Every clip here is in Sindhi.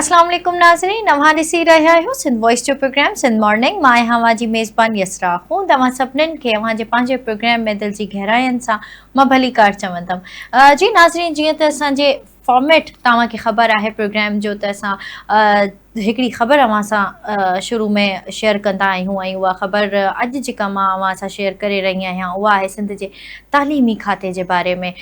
اسلام عليڪم ناظرين اوهان ڏسي رهيا آهيو سنڌ وائس جو پروگرام سنڌ مارننگ مان آهيان اوهان جي ميزبان يسرا هون توهان سڀنن کي اوهان جي پنهنجي پروگرام ۾ دل جي گهراين سان مان ڀليڪار چوندم جي ناظرين جيئن ته اسان جي فارميٽ توهان کي خبر آهي پروگرام جو ته اسان هڪڙي خبر اوهان سان شروع ۾ شيئر ڪندا آهيون ۽ اها خبر اڄ جيڪا مان اوهان سان شيئر ڪري رهي آهيان اها آهي سنڌ جي تعليمي کاتي جي باري ۾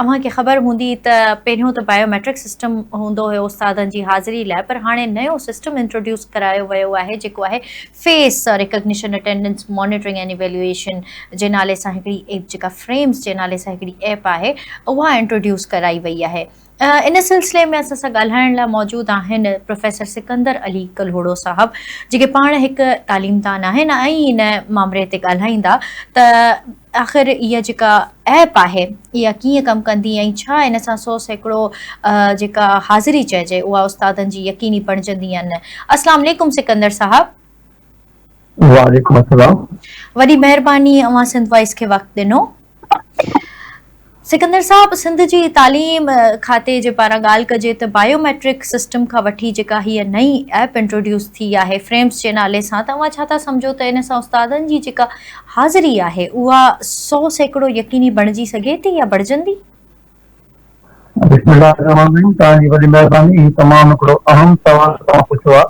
اوهان کي خبر هوندي ته پهريون ته بايو ميٽرڪ سسٽم هوندو هيو استادن جي حاضري لاء پر هاڻي نيو سسٽم انٽروڊيوس ڪرايو ويو آهي جيڪو آهي face recognition attendance monitoring and evaluation جي نالي سان هڪڙي ايپ جيڪا فريمز جي نالي سان هڪڙي ايپ آهي اها انٽروڊيوس ڪرائي وئي آهي ان سلسلي ۾ اسان سان ڳالهائڻ لاء موجود آهن پروفيسر سڪندر علي ڪلهوڙو صاحب جيڪي پاڻ هڪ تعليمدان آهن ۽ ان مامري تي ڳالهائيندا ته آخر اها جيڪا ايپ آهي اها ڪيئن ڪم ڪندي ۽ ڇا ان سان سو سيڪڙو جيڪا حاضري چئجي اها استادن جي يقيني بڻجندي يا نه. اسلام عليڪم سڪندر صاحب. وعليڪم السلام. وڏي مهرباني اوهان سنڌ وائس کي وقت ڏنو. سڪندر صاحب سنڌ جي تعليم کاتي جي پاران ڳالهه ڪجي ته بايو ميٽرڪ سسٽم کان وٺي جيڪا هيء نئين ايپ انٽروڊيوس ٿي آهي فريمز جي نالي سان ته اوهان ڇا ٿا سمجهو ته ان سان استادن جي جيڪا حاضري آهي اها سو سيڪڙو يقيني بڻجي سگهي ٿي يا بڻجندي؟ بسم الله الرحمن الرحيم توهان جي وڏي مهرباني هي تمام هڪڙو اهم سوال توهان پڇيو آهي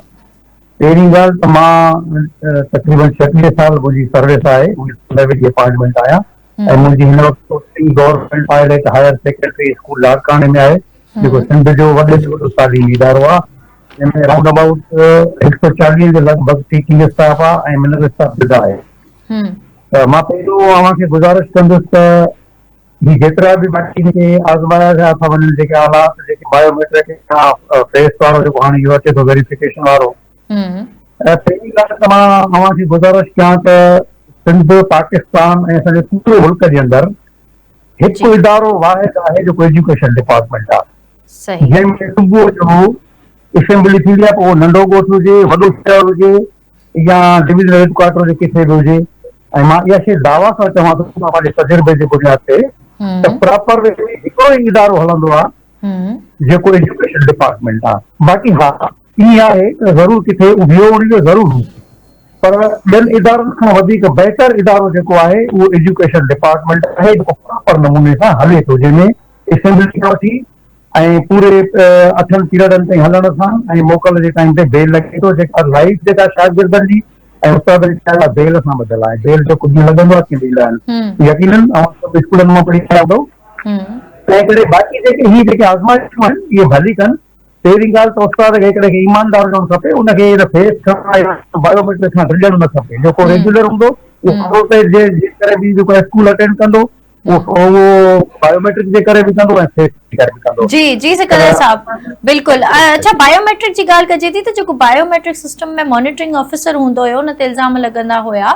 پهرين ڳالهه ته مان تقريبن ڇٽيهه سال منهنجي سروس آهي ان ۾ وڏي اپائنٽمينٽ آهيان ۽ منهنجي هن وقت posting government pilot higher secondary school لاڙڪاڻي ۾ آهي، جيڪو سنڌ جو وڏي ۾ وڏو تعليمي ادارو آهي، جنهن ۾ رائونڊ ابائوٽ هڪ سؤ چاليهه جي لڳ ڀڳ ٽيچنگ اسٽاف آهي ۽ منرل اسٽاف جدا آهي. ته مان پهريون اوهان کي گذارش ڪندس ته هي جيترا به ماٽرڪ کي آزمايا ويا ٿا وڃن جيڪي آلات جيڪي بايو ميٽرڪ اسٽاف فيس وارو جيڪو هاڻي اهو اچي ٿو ويريفڪيشن وارو پهرين ڳالهه ته مان اوهان کي گذارش ڪيان ته سنڌ، پاڪستان ۽ اسان جي پوري ملڪ جي اندر هڪ ادارو واحد آهي جيڪو ايجوڪيشن ڊپارٽمينٽ آهي. جنهن ۾ صبح جو اسيمبلي ٿيندي آهي پوء اهو ننڍو ڳوٺ هجي، وڏو شهر هجي يا ڊويزنل هيڊ ڪوارٽر هجي ڪٿي به هجي ۽ مان اها شيء دعويٰ سان چوان ٿو ته پنهنجي تجربي جي بنياد تي ته پراپر وي ۾ هڪڙو ئي ادارو هلندو آهي جيڪو ايجوڪيشن ڊپارٽمينٽ آهي. باقي ها ائين آهي ته ضرور ڪٿي اهو ان جو ضرور هو پر ٻين ادارن کان وڌيڪ بهتر ادارو جيڪو آهي اهو ايجوڪيشن ڊپارٽمينٽ آهي جيڪو پراپر نموني سان هلي ٿو جنهن ۾ اسيمبلي کان وٺي ۽ پوري اٺن پيرڊن تائين هلڻ سان ۽ موڪل جي ٽائيم تي بيل لڳي ٿو جيڪا لائيف جيڪا شاگردن جي ۽ استادن جي لاء بيل سان ٻڌل آهي بيل جو ڪجهه لڳندو آهي ڪي ڏيندا آهن يقينن اوهان سڀ اسڪولن مان پڙهي آيا هوندؤ تنهن ڪري باقي جيڪي هي جيڪي آزمائشون آهن اهي ڀلي ڪن پهرين ڳالهه ته استاد کي هڪڙي کي ايماندار هجڻ کپي، ان کي هن فيس ڪرڻ لاء بايوميٽرڪ سان گڏجڻ نه کپي، جيڪو ريگيولر هوندو اهو جي ڪري به جيڪو اسڪول اٽينڊ ڪندو اهو بايوميٽرڪ جي ڪري به ڪندو ۽ فيس جي ڪري به ڪندو. جي جي سڪندر صاحب بلڪل اڇا بايوميٽرڪ جي ڳالهه ڪجي ٿي ته جيڪو بايوميٽرڪ سسٽم ۾ مانيٽرنگ آفيسر هوندو هيو ان تي الزام لڳندا هيا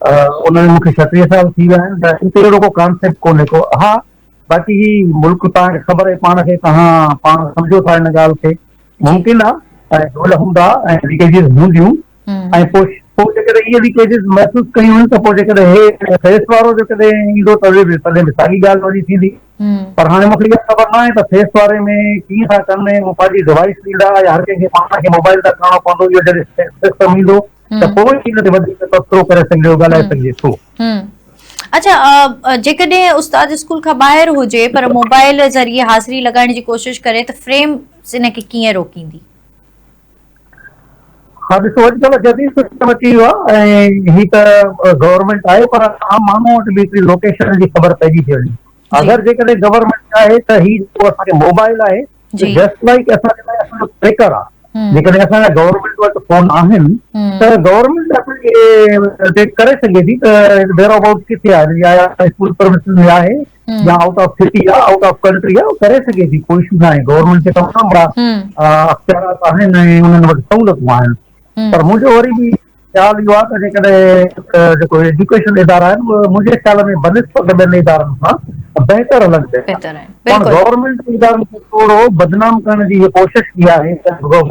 ان ۾ مون کي ڇٽيهه سال ٿي ويا آهن ته ان تي اهڙو ڪو ڪانسيپٽ ڪونهي ڪو ها باقي هي ملڪ توهان کي خبر آهي پاڻ کي توهان پاڻ سمجهو ٿا ان ڳالهه کي ممڪن آهي ۽ ڍول هوندا ۽ ليڪيجز هونديون ۽ پوء پوء جيڪڏهن اهي ليڪيجز محسوس ڪيون ته پوء جيڪڏهن هي فيس وارو جيڪڏهن ايندو ته به تڏهن به ساڳي ڳالهه وري ٿيندي پر هاڻي مون کي اها خبر نه آهي ته فيس واري ۾ ڪيئن ٿا ڪن ۽ پنهنجي ڊوائس ڏيندا يا هر ڪنهن کي پاڻ کي موبائل تان ڪرڻو پوندو اهو جڏهن سسٽم ايندو ته پوء ئي ان تي وڌيڪ تبصرو ڪري سگهجي ٿو، ڳالهائي سگهجي ٿو. اڇا جيڪڏهن استاد اسڪول کان ٻاهر هجي پر موبائل ذريعي حاضري لڳائڻ جي ڪوشش ڪري ته فريم ان کي ڪيئن روڪيندي؟ ها ڏسو اڄڪلهه جديد سسٽم اچي ويو آهي ۽ هي ته گورنمينٽ آهي پر عام ماڻهو وٽ به هڪڙي لوڪيشن جي خبر پئجي ٿي وڃي اگر جيڪڏهن گورنمينٽ چاهي ته هي جيڪو اسان کي موبائل آهي جي جسٽ لائيڪ اسان جي لاء اسان جو ٽريڪر آ جيڪڏهن اسان جا گورنمينٽ وٽ فون آهن ته گورنمينٽ اسان کي ڊيٽيڪٽ ڪري سگهي ٿي ته ويئر ابائوٽ ڪٿي آهي يا اسڪول پرمسز ۾ آهي يا آئوٽ آف سٽي آ آئوٽ آف ڪنٽري آ ڪري سگهي ٿي ڪو اشو ناهي گورنمينٽ کي تمام وڏا اختيارات آهن ۽ انهن وٽ سهولتون آهن پر منهنجو وري به خيال اهو آهي ته جيڪڏهن جيڪو ايجوڪيشن ادارا آهن اهي منهنجي خيال ۾ بنسبت ٻين ادارن کان بهتر هلن پيا ٿا پاڻ گورنمينٽ ادارن کي ٿورو بدنام ڪرڻ جي اها ڪوشش ڪئي آهي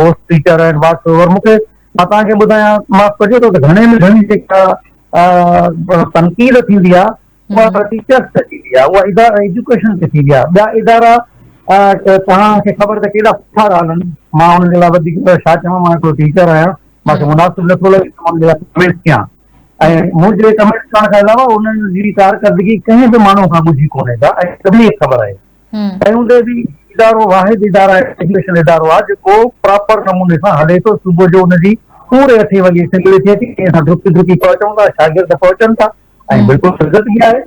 گوسٽ ٽيچر آهن واٽس اوور مون کي مان توهان کي ٻڌايان معاف ڪجو ته گهڻي ۾ گهڻي جيڪا تنقيد ٿيندي آهي اها ٽيچرس تي ٿيندي آهي، اها ادارا ايجوڪيشن تي ٿيندي آهي، ٻيا ادارا توهان کي خبر ته ڪيڏا سٺا ڳالهه آهن، مان انهن جي لاء وڌيڪ ڇا چوان، مان هڪڙو ٽيچر آهيان، مان کي مناسب نٿو لڳي ته مان انهن جي لاء ڪمينٽ ڪيان ۽ منهنجي ڪمينٽ ڪرڻ کان علاوه انهن جي ڪارڪردگي ڪنهن به ماڻهو کان ڳجهي ڪونهي ڪا ۽ سڀني کي خبر آهي. تنهن هوندي به ادارو واحد ادارا ايجوڪيشن ادارو آهي جيڪو پراپر نموني سان هلي ٿو، صبح جو ان جي پوري اٺين وڳي اسيمبلي ٿئي ٿي، ٽئين سان ڊڪي ڊڪي پهچون ٿا، شاگرد پهچن ٿا، ۽ بلڪل سنگت ئي آهي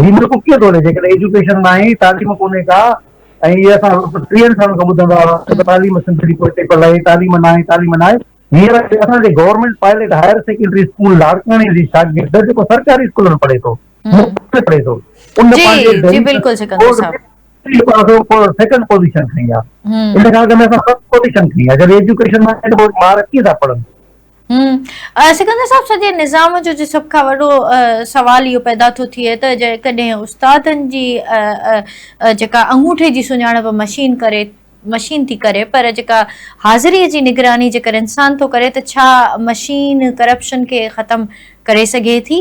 هي ملڪ ڪيئن ٿو هلي جيڪڏهن ايجوڪيشن ناهي تعليم ڪونهي ڪا ۽ هي اسان ٽيهن سالن کان ٻڌندا هئاسين ته تعليم سنڌ جي پوئتي پيل آهي تعليم ناهي تعليم ناهي هينئر اسان جي government pilot higher secondary school لاڙڪاڻي جي شاگرد جيڪو سرڪاري اسڪول ۾ پڙهي ٿو مفت ۾ پڙهي ٿو ان پنهنجي جي جي بلڪل سڪندر صاحب سيڪنڊ پوزيشن کڻي آ ان کان اڳ ۾ اسان فرسٽ پوزيشن کڻي آ جڏهن ايجوڪيشن ۾ ٻار ڪيئن ٿا پڙهن سڪندر صاحب سڄي نظام جو جي سڀ کان وڏو سوال اهو پيدا ٿو ٿئي ته جيڪڏهن استادن جي جيڪا انگوٺي جي سڃاڻپ مشين ڪري مشين ٿي ڪري پر جيڪا حاضري جي نگراني جيڪر انسان ٿو ڪري ته ڇا مشين ڪرپشن کي ختم ڪري سگهي ٿي؟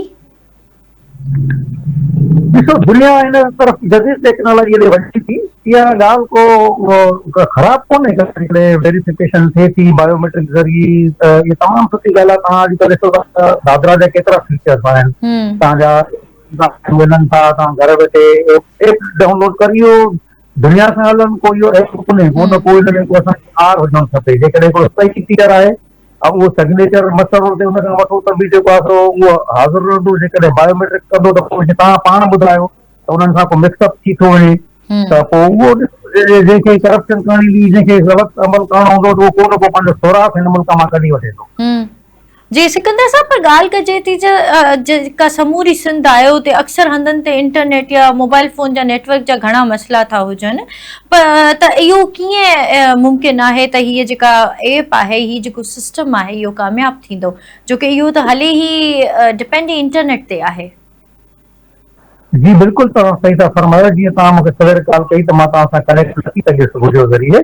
ڏسو دنيا ان طرف جديد ٽيڪنالاجي ڏي وڃي ٿي اها ڳالهه ڪو خراب ڪونهي جيڪڏهن ويريفڪيشن ٿئي ٿي بايوميٽرڪ ذريعي ته اها تمام سٺي ڳالهه آهي توهان اڄڪلهه ڏسو ٿا دادرا جا ڪيترا فيچرس آهن توهان جا ملن ٿا توهان گهر ويٺي ايپ ڊائونلوڊ ڪري اهو دنيا سان هلن ڪو اهو ايپ ڪونهي ڪو نه ڪو ان ۾ ڪو اسان کي آر هجڻ کپي جيڪڏهن ڪو صحيح فيچر آهي اهو سگنيچر مسرور تي ان کان وٺو ته به جيڪو آسرو اهو حاضر رهندو جيڪڏهن بايو ميٽرڪ ڪندو ته پوء توهان پاڻ ٻڌايو ته انهن سان ڪو مڪس اپ ٿي ٿو وڃي ته پوء اهو جنهن کي ڪرپشن ڪرڻي هوندي جنهن کي غلط عمل ڪرڻو هوندو ته اهو ڪو نه ڪو پنهنجو سوراخ هن ملڪ مان ڪڍي وٺي ٿو. جي سڪندر صاحب پر ڳالهه ڪجي ٿي ته جيڪا سموري سنڌ آهي اتي اڪثر هنڌن تي انٽرنيٽ يا موبائل فون جا نيٽ ورڪ جا گهڻا مسئلا ٿا هجن پر ته اهو ڪيئن ممڪن آهي ته هيء جيڪا ايپ آهي، هي جيڪو سسٽم آهي اهو ڪامياب ٿيندو، جو ڪي اهو ته هلي ئي ڊپينڊ ئي انٽرنيٽ تي آهي. جي بلڪل توهان صحيح ٿا فرمايو، جيئن توهان مونکي سوير ڳالهه ڪئي ته مان توهان سان ڪنيڪٽ نه ٿي سگهيس وڊيو ذريعي،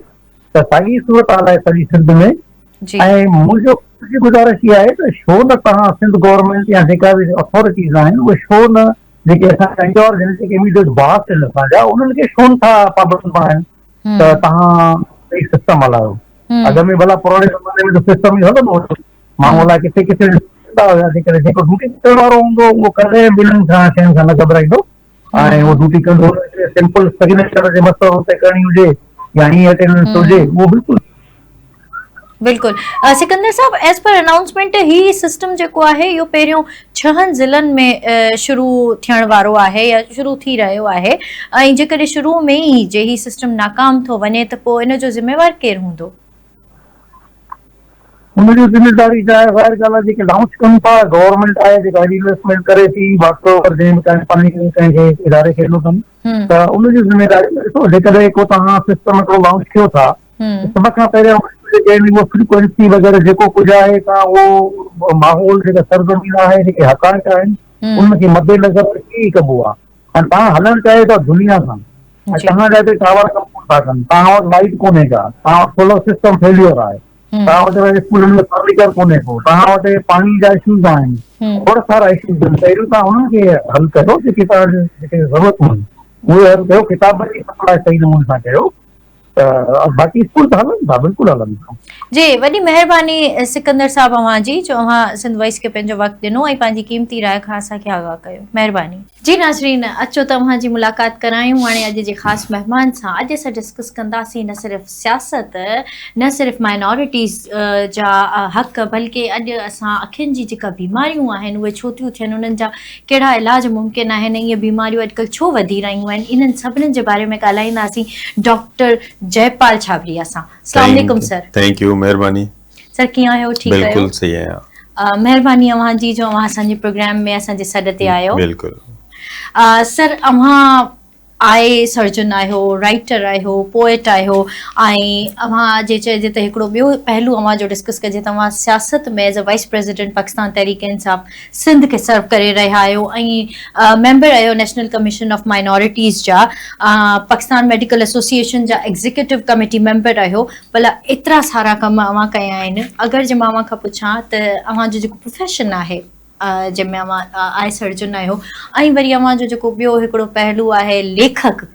ته ساڳي صورتحال آهي سڄي سنڌ ۾ ۽ منهنجو گذارش اها آهي ته شو نه توهان سنڌ گورنمينٽ يا جيڪا به اٿارٽيز آهن اهي شو نه جيڪي اسان کي ڪنهن چيو جن کي ايميڊيٽ باس آهن اسان جا انهن کي ڇو نٿا پابند بڻايون ته توهان هي سسٽم هلايو اڳ ۾ ڀلا پراڻي زماني ۾ سسٽم ئي هلندو هو ماڻهو الاء ڪٿي ڪٿي ڏسندا هياسي ڪري جيڪو ڊيوٽي ڪرڻ وارو هوندو اهو ڪڏهن ٻنهن کان شين کان نه گهٻرائيندو ۽ اهو ڊيوٽي ڪندو سمپل سگنيچر جي مسئلو تي ڪرڻي هجي يا هي اٽينڊنس هجي اهو بلڪل بلڪل Sikandar sahib as per announcement هي سسٽم جيڪو آهي اهو پهريون ڇهن ضلعن ۾ شروع ٿيڻ وارو آهي يا شروع ٿي رهيو آهي ۽ جيڪڏهن شروع ۾ ئي جي هي سسٽم ناڪام ٿو وڃي ته پوء ان جو ذميوار ڪير هوندو؟ ان جو ذميواري جا ظاهر ڳالهه آهي جيڪي لانچ ڪن ٿا گورنمينٽ آهي جيڪا هيڏي انويسٽمينٽ ڪري ٿي باقي اگر جنهن به ڪنهن پنهنجي ڪنهن ڪنهن کي اداري کي ڏنو اٿن ته ان جي ذميواري ڏسو جيڪڏهن ڪو توهان سسٽم هڪڙو لانچ ڪيو ٿا ۽ سڀ کان پهريان اهو فريڪوئنسي وغيره جيڪو ڪجهه آهي سا اهو ماحول جيڪا سرزمين آهي جيڪي حقائق آهن ان کي مد نظر رکي ئي ڪبو آهي ۽ تان هلڻ چاهيو ٿا دنيا سان ۽ توهان جا هتي ٽاور ڪم ڪون ٿا ڪن توهان وٽ لائيٽ ڪونهي ڪا توهان وٽ سولر سسٽم فيليور آهي توهان وٽ اسڪولن ۾ فرنيچر ڪونهي ڪو توهان وٽ پاڻي جا اشوز آهن ٿورا سارا اشوز آهن پهريون توهان انهن کي حل ڪريو جيڪي توهان جي ضرورتون آهن اهي حل ڪيو ڪتابن جي سپلاء صحيح نموني سان ڪيو باقي اسڪول ته هلن ٿا بلڪل هلن ٿا جي وڏي مهرباني سڪندر صاحب اوهان جي جو اوهان سنڌ وائس کي پنهنجو وقت ڏنو ۽ پنهنجي قيمتي راء کان اسان کي آگاهه ڪيو مهرباني. جي ناظرين اچو ته اوهان جي ملاقات ڪرايون هاڻي اڄ جي خاص مهمان سان اڄ اسان ڊسڪس ڪنداسين نه صرف سياست نه صرف مائنارٽيز جا حق بلڪه اڄ اسان اکين جي جيڪا بيماريون آهن اهي ڇو ٿيون ٿين انهن جا ڪهڙا علاج ممڪن آهن ۽ اهي بيماريون اڄڪلهه ڇو وڌي رهيون آهن انهن سڀني جي باري ۾ ڳالهائينداسين ڊاڪٽر جئپال ڇابريا سان اسلام عليڪم سر ٿينڪ يو مهرباني سر ڪيئن آهيو ٺيڪ آهيو بلڪل صحيح آهيان مهرباني اوهان جي جو اوهان اسان جي پروگرام ۾ اسان جي سڏ تي آيو بلڪل سر اوهان آء سرجن آهيو، رائيٽر آهيو، پوئٽ آهيو ۽ اوهان جي چئجي ته هڪڙو ٻيو پهلو اوهان جو ڊسڪس ڪجي ته اوهان سياست ۾ as a vice president Pakistan Tehreek Insaf Sindh کي سرو ڪري رهيا آهيو ۽ ميمبر آهيو نيشنل ڪميشن آف مائنارٽيز جا پاڪستان ميڊيڪل ايسوسيئيشن جا ايگزيڪيوٽو ڪميٽي ميمبر آهيو ڀلا ايترا سارا ڪم اوهان ڪيا آهن اگر جي مان اوهان کان پڇان ته اوهان جو جيڪو پروفيشن آهي جنهن ۾ اوهان آء سرجن آهيو ۽ وري اوهان جو جيڪو ٻيو هڪڙو پهلو آهي ليکڪ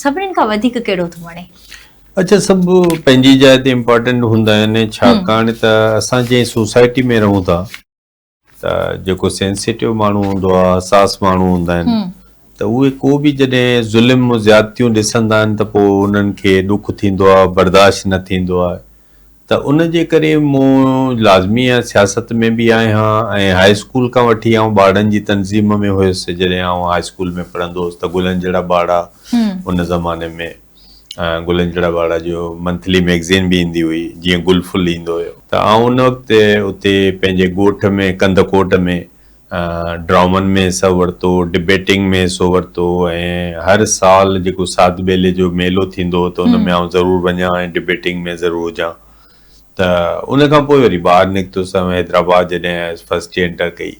سڀني کان وڌيڪ ڪهڙو ٿو وڻي؟ اچا سڀ پنهنجي جاء تي امپارٽنٽ هوندا آهن ڇاڪاڻ ته اسان جنهن سوسائٽي ۾ رهون ٿا ته جيڪو سينسيٽو ماڻهو هوندو آهي حساس ماڻهو هوندا آهن ته اهي ڪو به جڏهن ظلم زيادتيون ڏسندا آهن ته پوء انهن کي ڏک ٿيندو آهي برداشت نه ٿيندو آهي ته ان جي ڪري مون لازمي آهي سياست ۾ به آهيان ۽ هاء اسڪول کان وٺي آئون ٻارڙن جي تنظيم ۾ هيس جڏهن آئون هاء اسڪول ۾ پڙهندو هوس ته گلن جهڙا ٻارڙا ان زماني ۾ گلن جهڙا ٻارڙا جو منٿلي ميگزين به ايندي هئي جيئن گل ڦل ايندو هيو ته آئون ان وقت اتي پنهنجي ڳوٺ ۾ ڪنڌڪوٽ ۾ ڊرامن ۾ حصو ورتو، ڊبيٽنگ ۾ حصو ورتو ۽ هر سال جيڪو ساڌ ٻيلي جو ميلو ٿيندو هو ته ان ۾ آئون ضرور وڃان ۽ ڊبيٽنگ ۾ ضرور هجان ته ان کان پوء وري ٻاهر نڪتس ۽ حيدرآباد جڏهن آيس فرسٽ ٽي انٽر ڪئي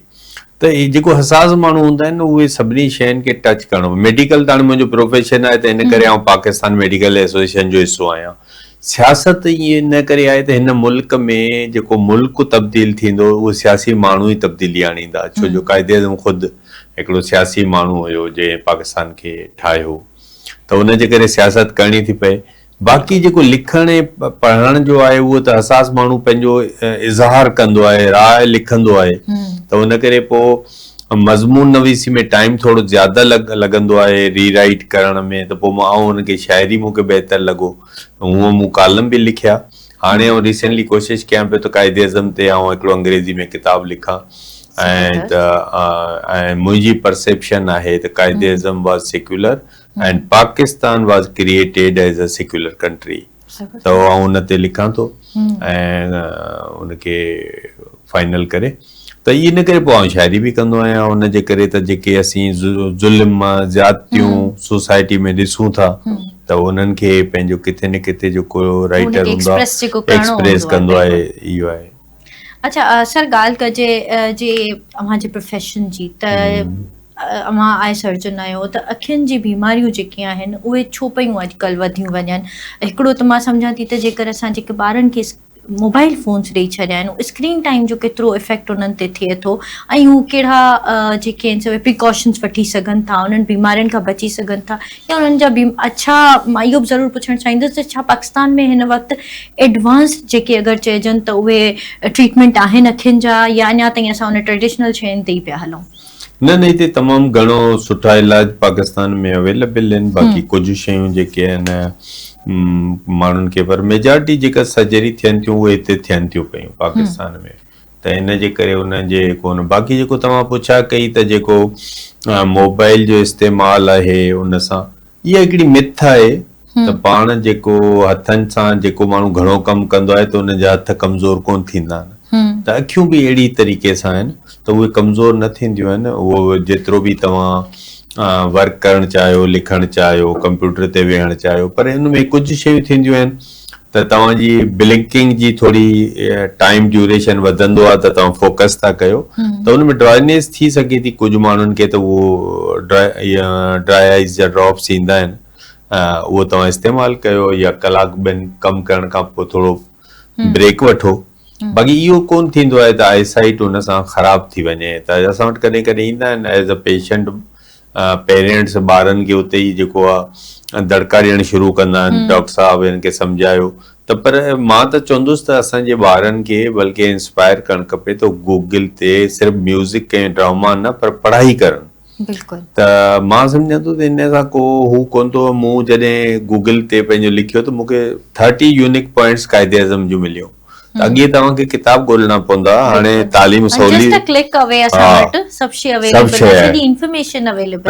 ته هي جيڪو حساس ماڻهو هوندا آهن نه اهي سڀني شين کي ٽچ ڪرڻو ميڊيڪل ته هاڻي منهنجو پروفيشن آهي ته ان ڪري آئون پاڪستان ميڊيڪل ايسوسيئيشن جو حصو آهيان. سياست ائين ان ڪري آهي ته هن ملڪ ۾ جيڪو ملڪ تبديل ٿيندو اهي سياسي ماڻهو ئي تبديلي آڻيندا ڇو جو قائد اعظم خود هڪڙو سياسي ماڻهو هيو جنهن پاڪستان کي ٺاهيو ته ان جي ڪري سياست ڪرڻي ٿي پئي باقي جيڪو لکڻ ۽ پڙهڻ جو آهي اهو ته حساس ماڻهو پنهنجو اظهار ڪندو آهي راء لکندو آهي ته ان ڪري پوء مضمون نويسي ۾ ٽائيم ٿورو زياده لڳندو آهي ري رائيٽ ڪرڻ ۾ ته پوء آئون ان کي شاعري مون کي بهتر لڳو هونء مون ڪالم به لکيا هاڻي آئون ريسينٽلي ڪوشش ڪيان پيو ته قائد اعظم تي آئون هڪڙو انگريزي ۾ ڪتاب لکان ۽ ته ۽ منهنجي پرسيپشن آهي ته Quaid Azam was secular ۽ Pakistan was created as a secular country. ته آئون ان تي لکان ٿو ۽ ان کي فائنل ڪري ته اي ان ڪري پوء آئون شاعري به ڪندو آهيان ان جي ڪري ته جيڪي اسين ظلم زيادتيون سوسائٽي ۾ ڏسون ٿا ته انهن کي پنهنجو ڪٿي نه ڪٿي جيڪو رائٽر هوندو آهي ايڪسپريس ڪندو آهي اهو آهي اڇا سر ڳالهه ڪجي جي اوهان جي پروفيشن جي ته اوهان آء سرجن آهيو ته اکين جي بيماريون جيڪي آهن اهي ڇو پيون اڄڪلهه وڌيون وڃن هڪڙو ته مان سمجهان ٿي ته جيڪر اسان جيڪي ٻارن کي موبائل فونس ڏيئي ڇڏيا آهن اسڪرين ٽائيم جو ڪيترو افيڪٽ انهن تي ٿئي ٿو ۽ هو ڪهڙا جيڪي آهن سي پريڪاشنس وٺي سگهن ٿا انهن بيمارين کان بچي سگهن ٿا ڪيا انهن جا بيم اڇا معيوب ضرور پڇڻ چاهيندس ته ڇا پاڪستان ۾ هن وقت ايڊوانس جيڪي اگر چئجن ته اهي ٽريٽمينٽ آهن اکين جا يا اڃا تائين اسان ان ٽريڊيشنل شين تي ئي پيا هلون. نه نه هتي تمام گهڻو سٺا علاج پاڪستان ۾ اويلبل آهن باقي ڪجهه شيون جيڪي آهن ماڻهن کي پر ميجارٽي جيڪا سرجري ٿين ٿيون اهي هتي ٿين ٿيون پيون پاڪستان ۾. ته ان جي ڪري ان جي ڪونه باقي جيڪو توهان پڇا ڪئي ته جيڪو موبائل جو استعمال آهي ان سان اها هڪڙي مٿ آهي ته پاڻ جيڪو هٿن سان جيڪو ماڻهو گهڻو ڪم ڪندو آهي ته ان جا هٿ ڪمزور ڪونه ٿيندا آهن ته اکيون به اهڙي طريقي سان آهن ته اهي ڪمزور نه ٿينديون آهن اهو جيترو به توهان ورڪ ڪرڻ چاهيو لکڻ چاهيو ڪمپيوٽر تي ويهڻ چاهيو پر ان ۾ ڪجهه شيون ٿينديون آهن ته توهان جي بلنڪنگ جي ٿوري ٽائيم ڊيوريشن وڌندو آهي ته توهان فوڪس ٿا ڪيو ته ان ۾ ڊرائنيس ٿي سگهي ٿي ڪجهه ماڻهن کي ته اهو ڊرائي آئيز جا ڊراپس ايندا آهن اهو توهان استعمال ڪيو يا ڪلاڪ ٻن ڪم ڪرڻ کان پوء ٿورو بريڪ وٺو باقي اهو ڪون ٿيندو آهي ته آئي سائيٽ ان سان خراب ٿي وڃي ته اسان وٽ ڪڏهن ڪڏهن ايندا آهن ايز ا پيشنٽ پيرينٽس ٻارن کي اتي ئي جيڪو آ دڙڪا ڏيڻ شروع ڪندا آهن ڊاڪٽر صاحب هن کي سمجهايو ته پر مان ته چوندس ته اسان جي ٻارن کي بلڪه انسپائر ڪرڻ کپي ته گوگل تي صرف ميوزڪ ۽ ڊراما نه پر پڙهائي ڪرن بلڪل ته مان سمجهان ٿو ته ان سان ڪو هو ڪون ٿو مون جڏهن گوگل تي پنهنجو لکيو ته مونکي thirty unique points Quaid Azam جون مليون ته اڳي توهان کي ڪتاب ڳولهڻا پوندا هاڻي تعليم سولي ته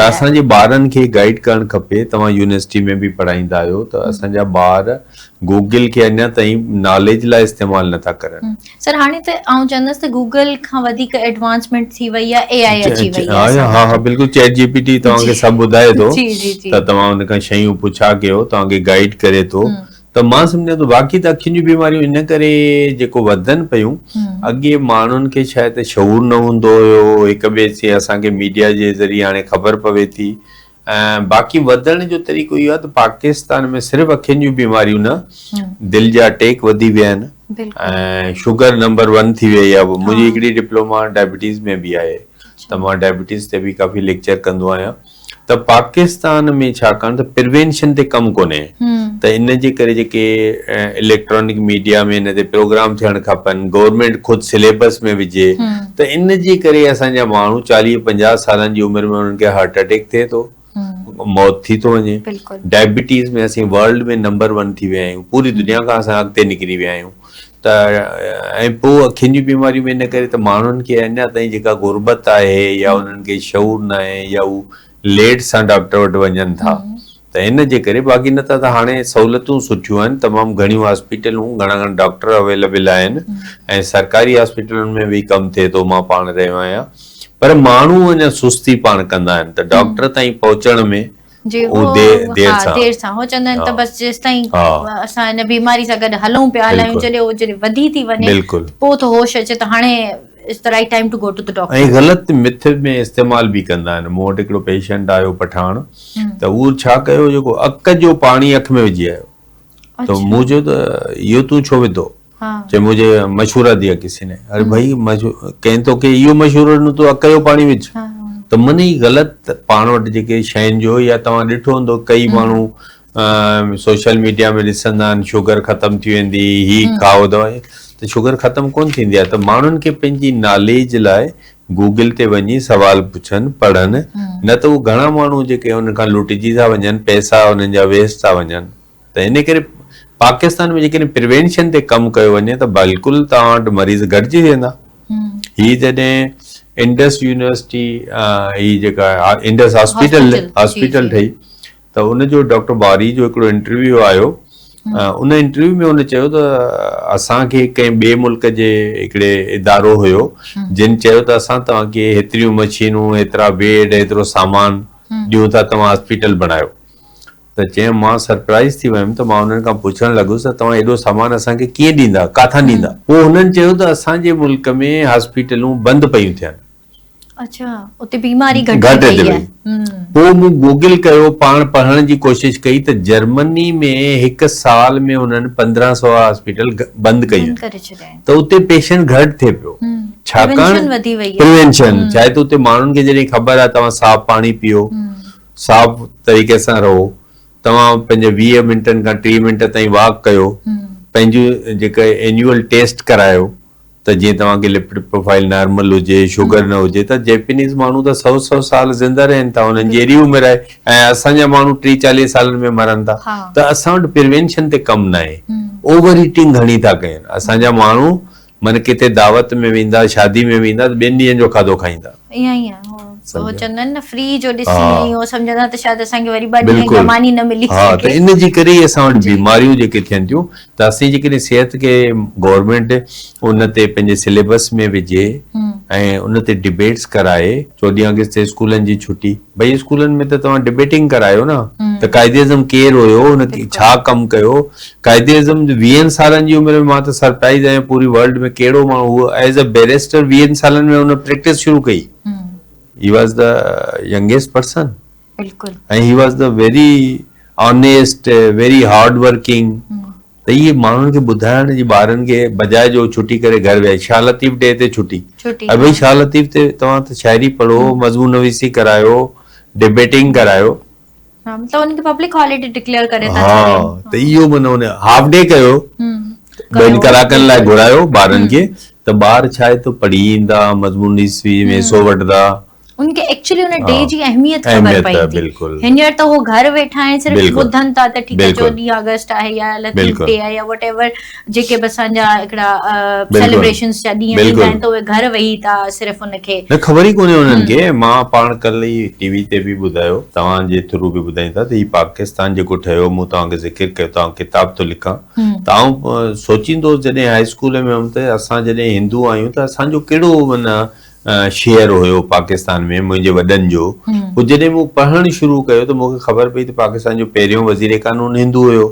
اسان جي ٻارن کي گائيڊ ڪرڻ کپي توهان يونيورسٽي ۾ به پڙهائيندا آهيو ته اسان جا ٻار گوگل کي اڃا تائين ناليج لاء استعمال نه ٿا ڪرن سر هاڻي ته آئون چوندس ته گوگل کان وڌيڪ ايڊوانسمينٽ ٿي وئي آهي اي آئي اچي وئي آهي ها ها بلڪل چيٽ جي پي ٽي توهان کي سڀ ٻڌائي ٿو ته توهان ان کان شيون پڇا ڪيو توهان کي گائيڊ ڪري ٿو ته مان سمجهان ٿو باقي ته اکين جون بيماريون ان ڪري جيڪو وڌن پيون اڳي ماڻهن کي شايد شعور نه هوندو هيو هڪ ٻئي سي اسان کي ميڊيا جي ذريعي هاڻي خبر پوي ٿي ۽ باقي وڌڻ جو طريقو اهو آهي ته پاڪستان ۾ صرف اکين جون بيماريون نه دل جا اٽيڪ وڌي ويا آهن ۽ شوگر نمبر ون ٿي ويئي آهي منهنجي هڪڙي ڊپلوما ڊائبيٽيز ۾ به آهي ته مان ڊائبيٽيز تي به ڪافي ليڪچر ڪندو آهيان ته پاڪستان ۾ ڇاڪاڻ ته پروينشن تي ڪم ڪونهي ته ان جي ڪري جيڪي اليڪٽرانڪ ميڊيا ۾ ان تي پروگرام ٿيڻ کپن گورنمينٽ خود سليبس ۾ وجهي ته ان جي ڪري اسان جا ماڻهو چاليهه پنجاهه سالن جي عمر ۾ انهن کي هارٽ اٽيڪ ٿئي ٿو موت ٿي ٿو وڃي ڊائبيٽيز ۾ اسين ورلڊ ۾ نمبر ون ٿي ويا آهيون پوري دنيا کان اسان اڳتي نڪري ويا آهيون ته ۽ پوء اکين جون بيماريون به ان ڪري ته ماڻهن کي اڃا تائين جيڪا غربت آهي يا انهن کي شعور ناهي يا هو ليٽ سان ڊاڪٽر وٽ وڃن ٿا ته ان جي ڪري باقي نه ته ته هاڻي سهولتون سٺيون آهن تمام گهڻيون هاسپيٽلون گهڻا گهڻا ڊاڪٽر اويليبل آهن ۽ سرڪاري هاسپيٽلن ۾ به ڪم ٿئي ٿو مان پاڻ رهيو آهيان پر ماڻهو اڃا سستي پاڻ ڪندا آهن ته ڊاڪٽر تائين پهچڻ ۾ جي هو دير سان دير سان هو چوندا آهن ته بس جيستائين اسان هن بيماري سان گڏ هلون پيا هلايون جڏهن هو جڏهن وڌي ٿي وڃي پوء ٿو هوش اچي ته هاڻي it's the right time to go to the doctor ۽ غلط مٿ ۾ استعمال به ڪندا آهن مون وٽ هڪڙو پيشنٽ آيو پٺاڻ ته هو ڇا ڪيو جيڪو اڪ جو پاڻي اک ۾ وجهي آيو ته مون چيو ته اهو تون ڇو وڌو چي مجھي مشورا ديا کسي ني اري بھائي ڪنھن تو کي اھو مشورو ڏنو تو اڪ جو پاڻي وجھ ته من ئي غلط پاڻ وٽ جيڪي شين جو يا توھان ڏٺو ھوندو ڪئي ماڻھو سوشل ميڊيا ۾ ڏسندا آھن شگر ختم ٿي ويندي ھي کائو دوا ته شگر ختم ڪون ٿيندي آھي ته ماڻھن کي پنھنجي ناليج لاء گوگل تي وڃي سوال پڇن پڙھن نه ته اھو گھڻا ماڻھو جيڪي ان کان لٽجي ٿا وڃن پئسا انھن جا ويسٽ ٿا وڃن ته ان ڪري پاڪستان ۾ جيڪڏهن پريوينشن تي ڪم ڪيو وڃي ته بلڪل توهان وٽ مريض گهٽجي ويندا هي جڏهن انڊس يونيورسٽي هي جيڪا انڊس هاسپيٽل هاسپيٽل ٺهي ته ان جو ڊاڪٽر باري جو هڪڙو انٽرويو آيو ان انٽرويو ۾ هن چيو ته اسانکي ڪنهن ٻئي ملڪ جي هڪڙي ادارو هيو جن چيو ته اسان توهانکي هيتريون مشينون هيترا بيڊ هيترو سامان ڏيون ٿا توهان هاسپيٽل بڻايو ته چيم مان سرپرائيز ٿي ويم ته مان انهن کان پڇڻ لڳس ته توهان ايڏو سامان اسان کي ڪيئن ڏيندا ڪاٿان ڏيندا پوء هنن چيو ته اسان جي ملڪ ۾ هاسپيٽلون بند پيون ٿين اڇا اتي بيماري گهٽ ٿي وئي پوء مون گوگل ڪيو پاڻ پڙهڻ جي ڪوشش ڪئي ته جرمني ۾ هڪ سال ۾ هنن پندرهن سو هاسپيٽل بند ڪئي آهن ته اتي پيشنٽ گهٽ ٿي پيو ڇاڪاڻ پريونشن ڇا آهي ته اتي ماڻهن کي جڏهن خبر آهي توهان صاف پاڻي پيئو صاف طريقي سان رهو توهان پنهنجي ويهه منٽن کان ٽيهه منٽ تائين واڪ ڪيو پنهنجي جيڪا اينيول ٽيسٽ ڪرايو ته جيئن توهان کي لپڊ پروفائل نارمل هجي شگر نه هجي ته جيپنيز ماڻهو ته سو سو سال زنده رهن ٿا انهن جي اهڙي عمر آهي ۽ اسان جا ماڻهو ٽي چاليهه سالن ۾ مرن ٿا ته اسان وٽ پروينشن تي ڪم نه آهي اوور ايٽنگ گهڻي ٿا ڪين اسان جا ماڻهو من ڪٿي دعوت ۾ ويندا شادي ۾ ويندا ته ٻين ڏينهن جو کاڌو کائيندا. ايئن ئي آهي هو سمجهيا چوندا آهن نه فري جو ڏسي ها ۽ هو سمجهندا ته شايد اسان کي وري ٻه ڏينهن بلڪل گهمان ئي نه ملي ها ته سگهي ان جي ڪري ئي اسان وٽ جي بيماريون جيڪي ٿين ٿيون ته اسين جيڪڏهن صحت کي گورمينٽ ان تي پنهنجي سليبس ۾ وجهي ۽ ان تي ڊبيٽس ڪرائي چوڏهين آگسٽ تي اسڪولن جي ڇٽي ڀئي اسڪولن ۾ ته توهان ڊبيٽنگ ڪرايو نه ته قائد اعظم ڪير هيو هن ڇا ڪم ڪيو قائد اعظم ويهن سالن جي عمر ۾ مان ته سرپرائز آهيان پوري ورلڊ ۾ ڪهڙو ماڻهو هو ايز ا بيريسٽر ويهن سالن ۾ هن پريڪٽس شروع ڪئي he was the youngest person بلڪل ۽ he was the very honest very hard working ته اهي ماڻهن کي ٻڌائڻ جي ٻارن کي بجاء جو ڇٽي ڪري گهر ويهائي شاهه لطيف ڊي تي ڇٽي ۽ ڀئي شاهه لطيف تي توهان ته شاعري پڙهو مضمون نويسي ڪرايو ڊبيٽنگ ڪرايو ها مطلب ان کي پبلڪ هاليڊي ڊڪليئر ڪري ٿا ڇڏين ها ته اهو معنيٰ ان جو هاف ڊي ڪيو ٻن ڪلاڪن لاء گهرايو ٻارن کي ته ٻار ڇا آهي ته پڙهي ايندا مضمون نويسي ۾ حصو وٺدا. ان کي ايڪچولي ان ڊي جي اهميت خبر پئي ٿي هينئر ته هو گهر ويٺا آهن صرف ٻڌن ٿا ته ٺيڪ آهي چوڏهين آگسٽ آهي يا لطيف ڊي آهي يا وٽ ايور جيڪي به اسان جا هڪڙا سيليبريشنز جا ڏينهن ٿيندا آهن ته اهي گهر ويهي ٿا صرف ان کي نه خبر ئي ڪونهي انهن کي مان پاڻ ڪلهه ئي ٽي وي تي به ٻڌايو توهان جي ٿرو به ٻڌائين ٿا ته هي پاڪستان جيڪو ٺهيو مون توهان کي ذڪر ڪيو ته آئون ڪتاب ٿو لکان ته آئون سوچيندو هوس جڏهن هاء اسڪول ۾ هيم ته اسان جڏهن هندو آهيون ته اسان جو ڪهڙو معنيٰ شعر هيو پاڪستان ۾ منهنجي وڏن جو هو جڏهن مون پڙهڻ شروع ڪيو ته مون کي خبر پئي ته پاڪستان جو پهريون وزير قانون هندو هيو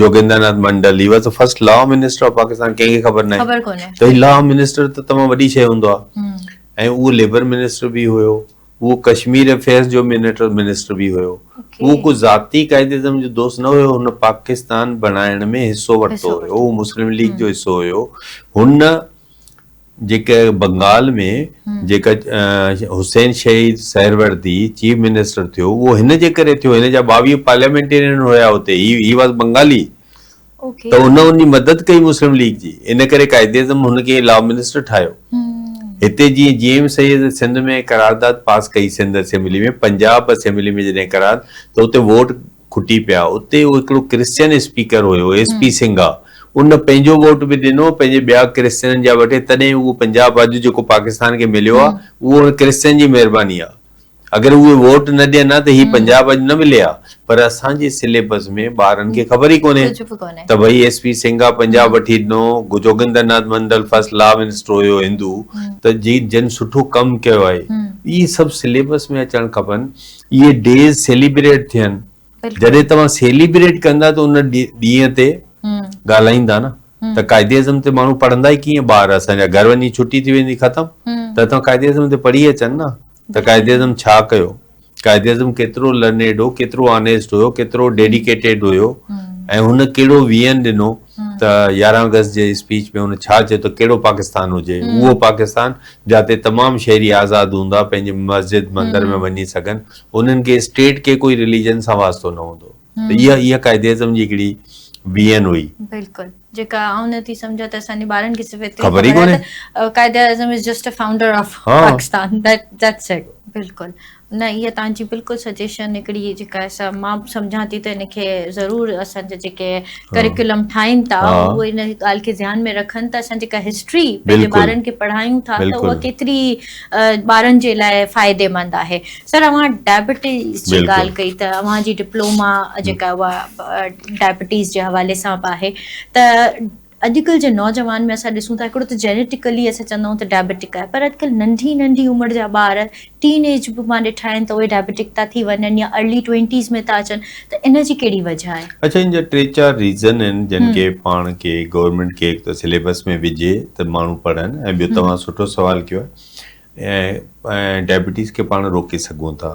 Jogendra Nath Mandal he was first law minister of Pakistan ڪنهن کي خبر ناهي ته هي لا منسٽر ته تمام وڏي شيء هوندو آهي ۽ اهو ليبر منسٽر به هيو اهو ڪشمير افيئرز جو منٽر منسٽر به هيو اهو ڪو ذاتي قائد اعظم جو دوست نه هيو هن پاڪستان بڻائڻ ۾ حصو ورتو هيو اهو مسلم ليگ جو حصو هيو هن جيڪي بنگال ۾ جيڪا حسين شهيد سهروردي چيف منسٽر ٿيو اهو هن جي ڪري ٿيو هن جا ٻاويهه پارليامينٽيرين هيا اتي هي واز بنگالي ته ان ان جي مدد ڪئي مسلم ليگ جي ان ڪري قائد اعظم هن کي لا منسٽر ٺاهيو هتي جي جي ايم سيد سنڌ ۾ قرارداد پاس ڪئي سنڌ اسيمبلي ۾ پنجاب اسيمبلي ۾ جڏهن قرار ته اتي ووٽ کٽي پيا اتي هو هڪڙو ڪرسچن اسپيڪر هيو ايس پي سنگها ان پنهنجو ووٽ به ڏنو پنهنجي ٻيا ڪرسچنن جا وٺي تڏهن اهو پنجاب اڄ جيڪو پاڪستان کي مليو آهي اهو ان ڪرسچن جي مهرباني آهي اگر اهي ووٽ نه ڏين ها ته هي پنجاب اڄ نه ملي ها پر اسان جي سليبس ۾ ٻارن کي خبر ئي ڪونهي ته ڀئي ايس پي سنگها پنجاب وٺي ڏنو Jogendra Nath Mandal first law minister هيو هندو ته جن سٺو ڪم ڪيو آهي اهي سڀ سليبس ۾ اچڻ کپن اهي ڊيز سيليبريٽ ٿين جڏهن توهان سيليبريٽ ڪندا ته ان ڏينهن تي ڳالهائيندا نه ته قائد اعظم تي ماڻهو پڙهندا ئي ڪيئن ٻار اسان جا گهر وڃي ڇٽي ٿي ويندي ختم ته توهان قائد اعظم تي پڙهي اچن نه ته قائد اعظم ڇا ڪيو قائد اعظم ڪيترو لرنيڊ هو ڪيترو آنيسٽ هيو ڪيترو ڊيڊيڪيٽيڊ هيو ۽ هن ڪهڙو ويئن ڏنو ته يارهن آگسٽ جي اسپيچ ۾ هن ڇا چيو ته ڪهڙو پاڪستان هجي، اهو پاڪستان جاتي تمام شهري آزاد هوندا، پنهنجي مسجد مندر ۾ وڃي سگهن، انهن کي اسٽيٽ کي ڪوئي رليجن سان واسطو نه هوندو ته اها اها قائداعظم جي هڪڙي وين هئي. بلڪل جيڪا آئون نه ٿي سمجهان ته اسان جي ٻارن کي صرف ايتري خبر آهي ته Quaid-e-Azam is just a founder of Pakistan that's it بلڪل. نه اها توهان جي بلڪل سجيشن هڪڙي جيڪا سا مان به سمجهان ٿي ته ان کي ضرور اسان جا جيڪي ڪريڪولم ٺاهين ٿا اهو ان ڳالهه کي ڌيان ۾ رکن ته اسان جيڪا هسٽري پنهنجي ٻارن کي پڙهايون ٿا ته اها ڪيتري ٻارن جي لاء فائديمند آهي. سر اوهان ڊائبيٽيز جي ڳالهه ڪئي ته اوهان جي ڊپلوما جيڪا اها ڊائبيٽيز جي حوالي سان به آهي ته اڄڪلهه جي نوجوان ۾ اسان ڏسون ٿا هڪڙو ته جينيٽڪلي اسان چوندا آهيون ته ڊائبيٽڪ آهي پر اڄڪلهه ننڍي ننڍي عمر جا ٻار ٽين ايج به مان ڏٺا آهن ته اهي ڊائبيٽڪ ٿا ٿي وڃن يا ارلي ٽوئنٽيز ۾ ٿا اچن ته ان جي ڪهڙي وجهه آهي؟ اڇا ان جا ٽي چار ريزن آهن جن کي پاڻ کي گورنمينٽ کي هڪ ته سليبس ۾ وجهي ته ماڻهو پڙهن ۽ ٻيو توهان سٺو سوال ڪيو آهي ۽ ڊائبيٽيز کي پاڻ روڪي سگهون ٿا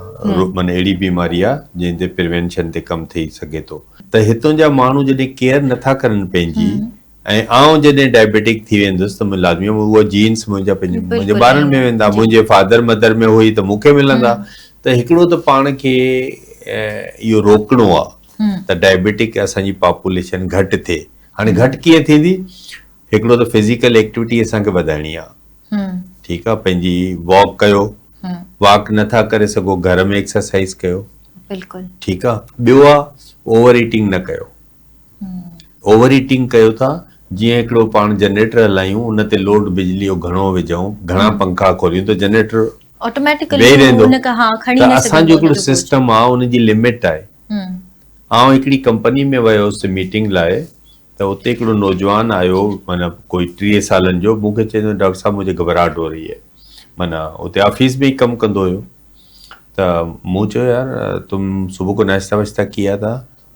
معنيٰ اهڙي بيماري آ جنهن تي پروينشن تي ڪم ٿئي سگهي ٿو ته هتون جا ماڻهو جڏهن ڪيئر نٿا ڪرن پنهنجي ۽ آئون جڏهن ڊائبيٽڪ ٿي ويندس ته مون لازمي اهو جينس منهنجا پنهنجي ٻارن ۾ ويندا منهنجي فادر مدر ۾ هئي ته مونکي ملندا ته هڪڙو ته پاڻ کي اهو روڪڻو آ ته ڊائبيٽڪ اسان جي پاپوليشن گهٽ ٿئي هاڻي گهٽ ڪيئن ٿيندي هڪڙو ته فزيڪل ايڪٽيوٽي اسان کي وڌائڻي آ ٺيڪ آ پنهنجي واڪ ڪيو واڪ نه ٿا ڪري سگهو گهر ۾ ايڪسرسائز ڪيو بلڪل ٺيڪ آ ٻيو آ اوور ايٽنگ نه ڪيو اوور ايٽنگ ڪيو ٿا جيئن هڪڙو پاڻ جنريٽر هلايون ان تي لوڊ بجلي جو گهڻو وجهون گهڻا پنکا کوليون ته جنريٽر آٽوميٽڪلي ان کان ها کڻي نه سگهندو جو هڪڙو سسٽم آ ان جي لمٽ آهي آئون هڪڙي ڪمپني ۾ ويو هوس ميٽنگ لاء ته اتي هڪڙو نوجوان آيو معنيٰ ڪوئي ٽيهه سالن جو مون کي چئي ته ڊاڪٽر صاحب مجھي گھٻراهٽ هو رهي هي معنيٰ اتي آفيس ۾ ئي ڪم ڪندو هيو ته مون چيو يار تم صبح کو ناشته واشته ڪيا ٿا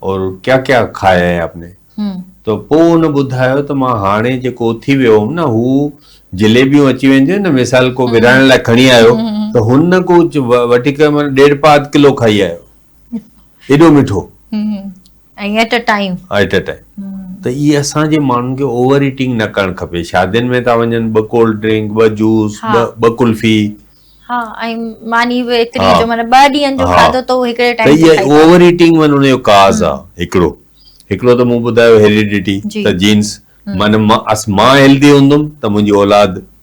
اور ڪيا ڪيا کايا هي آپ ني ته پوء هن ٻڌايو ته مان هاڻي جيڪو اٿي ويو هوم نه هو جليبيون اچي وينديون آهن نه مثال ڪو ورهائڻ لاء کڻي آيو ته هن ڪو وٺي ڪري معنيٰ ڏيڍ پاء اڌ ڪلو کائي آيو ايڏو مٺو ۽ at a time at a time ته هي اسان جي ماڻهن کي اوور ايٽنگ نه ڪرڻ کپي شادين ۾ ٿا وڃن ٻه ڪولڊ ڊرنڪ ٻه جوس ٻه ڪلفي ها ۽ ماني به ايتري جو معنيٰ ٻه ڏينهن جو کاڌو ته هڪڙي ٽائيم تي کائي ته اوور ايٽنگ ۾ ان جو ڪاز آهي هڪڙو هڪڙو ته مون ٻڌايو هيريڊيٽي ته جينز معنيٰ مان هيلدي هوندم ته منهنجي اولاد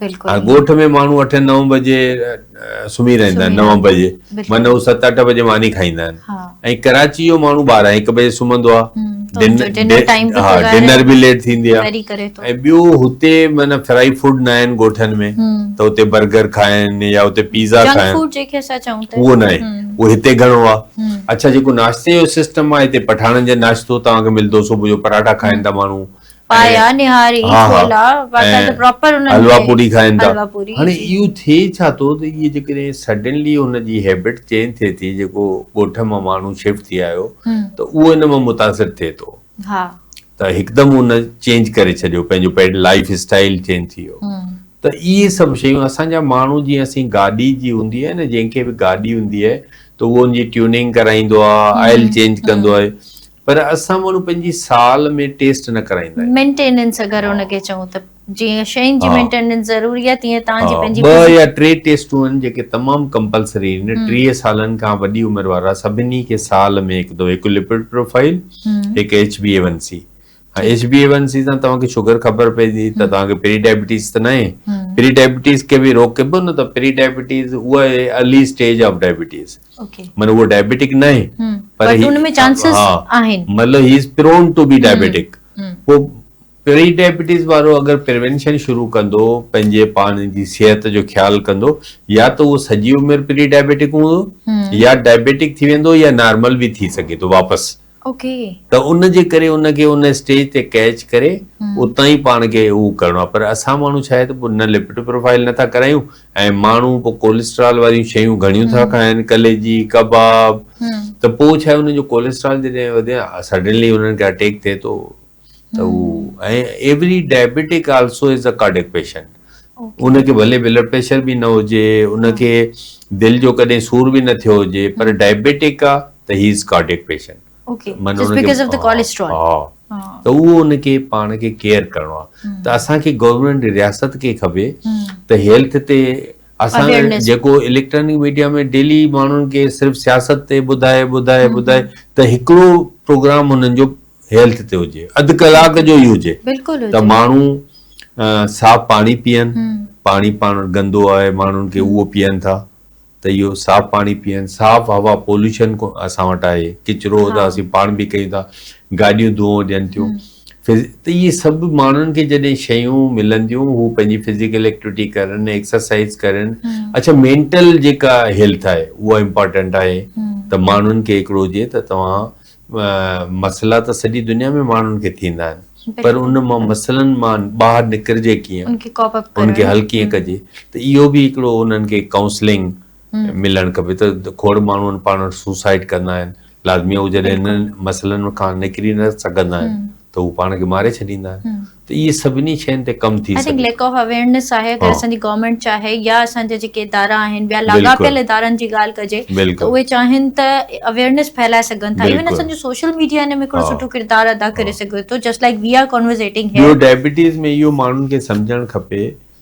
بلڪل ڳوٺ ۾ ماڻهو اٺ نو بجي سمهي رهندا آهن نو بجي معنيٰ هو ست اٺ بجي ماني کائيندا آهن ۽ ڪراچي جو ماڻهو ٻارهن هڪ بجي سمهندو آهي ڊنر به ليٽ ٿيندي آهي ۽ ٻيو هتي معنيٰ فرائي فوڊ نه آهن ڳوٺن ۾ ته هتي برگر کائن يا هتي پيزا کائن اهو نه آهي اهو هتي گهڻو آهي اڇا جيڪو ناشتي جو سسٽم آهي هتي پٺاڻن جو ناشتو توهان کي ملندو صبح جو پراٺا کائن ٿا ماڻهو پايا نهاري ڇولا واتان ته پراپر انهن ۾ حلوا پوري کائن ٿا هاڻي اهو ٿئي ڇا ٿو ته اهي جيڪڏهن سڊنلي ان جي هيبٽ چينج ٿئي ٿي جيڪو ڳوٺ مان ماڻهو شفٽ ٿي آيو ته اهو ان مان متاثر ٿئي ٿو ته هڪدم ان چينج ڪري ڇڏيو پنهنجو پيڊ لائف اسٽائل چينج ٿي ويو ته اهي سڀ شيون اسان جا ماڻهو جيئن اسين گاڏي جي هوندي آهي نه جنهن کي به گاڏي هوندي آهي ته اهو ان جي ٽيوننگ ڪرائيندو آهي آئل چينج ڪندو آهي پر اسان ماڻهو پنهنجي سال ۾ ٽيسٽ نه ڪرائيندا آهيون. مينٽيننس اگر ان کي چئون ته جيئن شين جي مينٽيننس ضروري آهي تيئن توهان جي پنهنجي. ٻه يا ٽي ٽيسٽون آهن جيڪي تمام ڪمپلسري آهن ٽيهه سالن کان وڏي عمر وارا سڀني کي سال ۾ هڪ دفعو هڪ لپڊ پروفائيل هڪ H B A one C ۽ H B A one C سان توهان کي شگر خبر پئجي ته توهان کي پري ڊائبيٽيز ته ناهي پري ڊائبيٽيز کي به روڪبو نه ته پري ڊائبيٽيز اها ارلي اسٽيج آف ڊائبيٽيز معنيٰ هو ڊائبيٽڪ ناهي پر هن ۾ چانسز آهن مطلب هي از پرون ٽو بي ڊائبيٽڪ پوء پري ڊائبيٽيز وارو اگر پريونشن شروع ڪندو پنهنجي پاڻ جي صحت جو خيال ڪندو يا ته اهو سڄي عمر پري ڊائبيٽڪ هوندو يا ڊائبيٽڪ ٿي ويندو يا نارمل به ٿي سگهي ٿو واپس ته ان جي ڪري ان کي ان اسٽيج تي ڪيچ ڪري اتان ئي پاڻ کي هو ڪرڻو آهي پر اسان ماڻهو ڇا آهي ته پوء نه لپٽ پروفائيل نه ٿا ڪرايون ۽ ماڻهو پوء ڪوليسٽرال واريون شيون گهڻيون ٿا کائن ڪليجي ڪباب ته پوء ڇا آهي ان جو ڪوليسٽرال جڏهن وڌي سڊنلي انهن کي اٽيڪ ٿئي ٿو ته هو ۽ every diabetic also is a cardiac patient ان کي ڀلي بلڊ پريشر به نه هجي ان کي دل جو ڪڏهن سور به نه ٿيو هجي پر ڊائبيٽڪ آ ته هي از ڪارڊڪ پيشنٽ ته اهو ان کي پاڻ کي ڪيئر ڪرڻو آ ته اسان کي گورنمينٽ رياست کي کپي ته هيلٿ تي اسان جيڪو اليڪٽرانڪ ميڊيا ۾ ڊيلي ماڻهن کي صرف سياست تي ٻڌائي ٻڌائي ٻڌائي ته هڪڙو پروگرام هنن جو هيلٿ تي هجي اڌ ڪلاڪ جو ئي هجي ته ماڻهو صاف پاڻي پيئن پاڻي پاڻ گندو آهي ماڻهن کي اهو پيئن ٿا ته اهو صاف پاڻي پيئن صاف هوا پولوشن اسان وٽ آهي ڪچرو ته اسين پاڻ به ڪيون ٿا گاڏيون دونهو ڏين ٿيون ته اهي سڀ ماڻهن کي جڏهن شيون ملنديون هو پنهنجي فزيڪل ايڪٽيوٽي ڪرن ايڪسرسائز ڪرن اڇا مينٽل جيڪا هيلٿ آهي اها امپارٽنٽ آهي ته ماڻهن کي هڪڙو هجي ته توهان مسئلا ته سڄي دنيا ۾ ماڻهن کي ٿيندا آهن پر ان مان مسئلن مان ٻاهر نڪرجي ڪيئن ان کي حل ڪيئن ڪجي ته اهو به هڪڙو انهن کي ڪائونسلنگ ملڻ کپي ته کوڙ ماڻهو پاڻ وٽ سوسائيڊ ڪندا آهن لازمي هو جڏهن انهن مسئلن کان نڪري نه سگهندا آهن ته هو پاڻ کي ماري ڇڏيندا آهن ته اهي سڀني شين تي ڪم ٿي سگهي ٿو. I think lack of awareness آهي اگر اسان جي گورنمينٽ چاهي يا اسان جا جيڪي ادارا آهن ٻيا لاڳاپيل ادارن جي ڳالهه ڪجي ته اهي چاهين ته اويرنس ڦهلائي سگهن ٿا ايون اسان جو سوشل ميڊيا ان ۾ هڪڙو سٺو ڪردار ادا ڪري سگهي ٿو just like we are conversating here. ٻيو ڊائبيٽيز ۾ اهو ماڻهن کي سمجهڻ کپي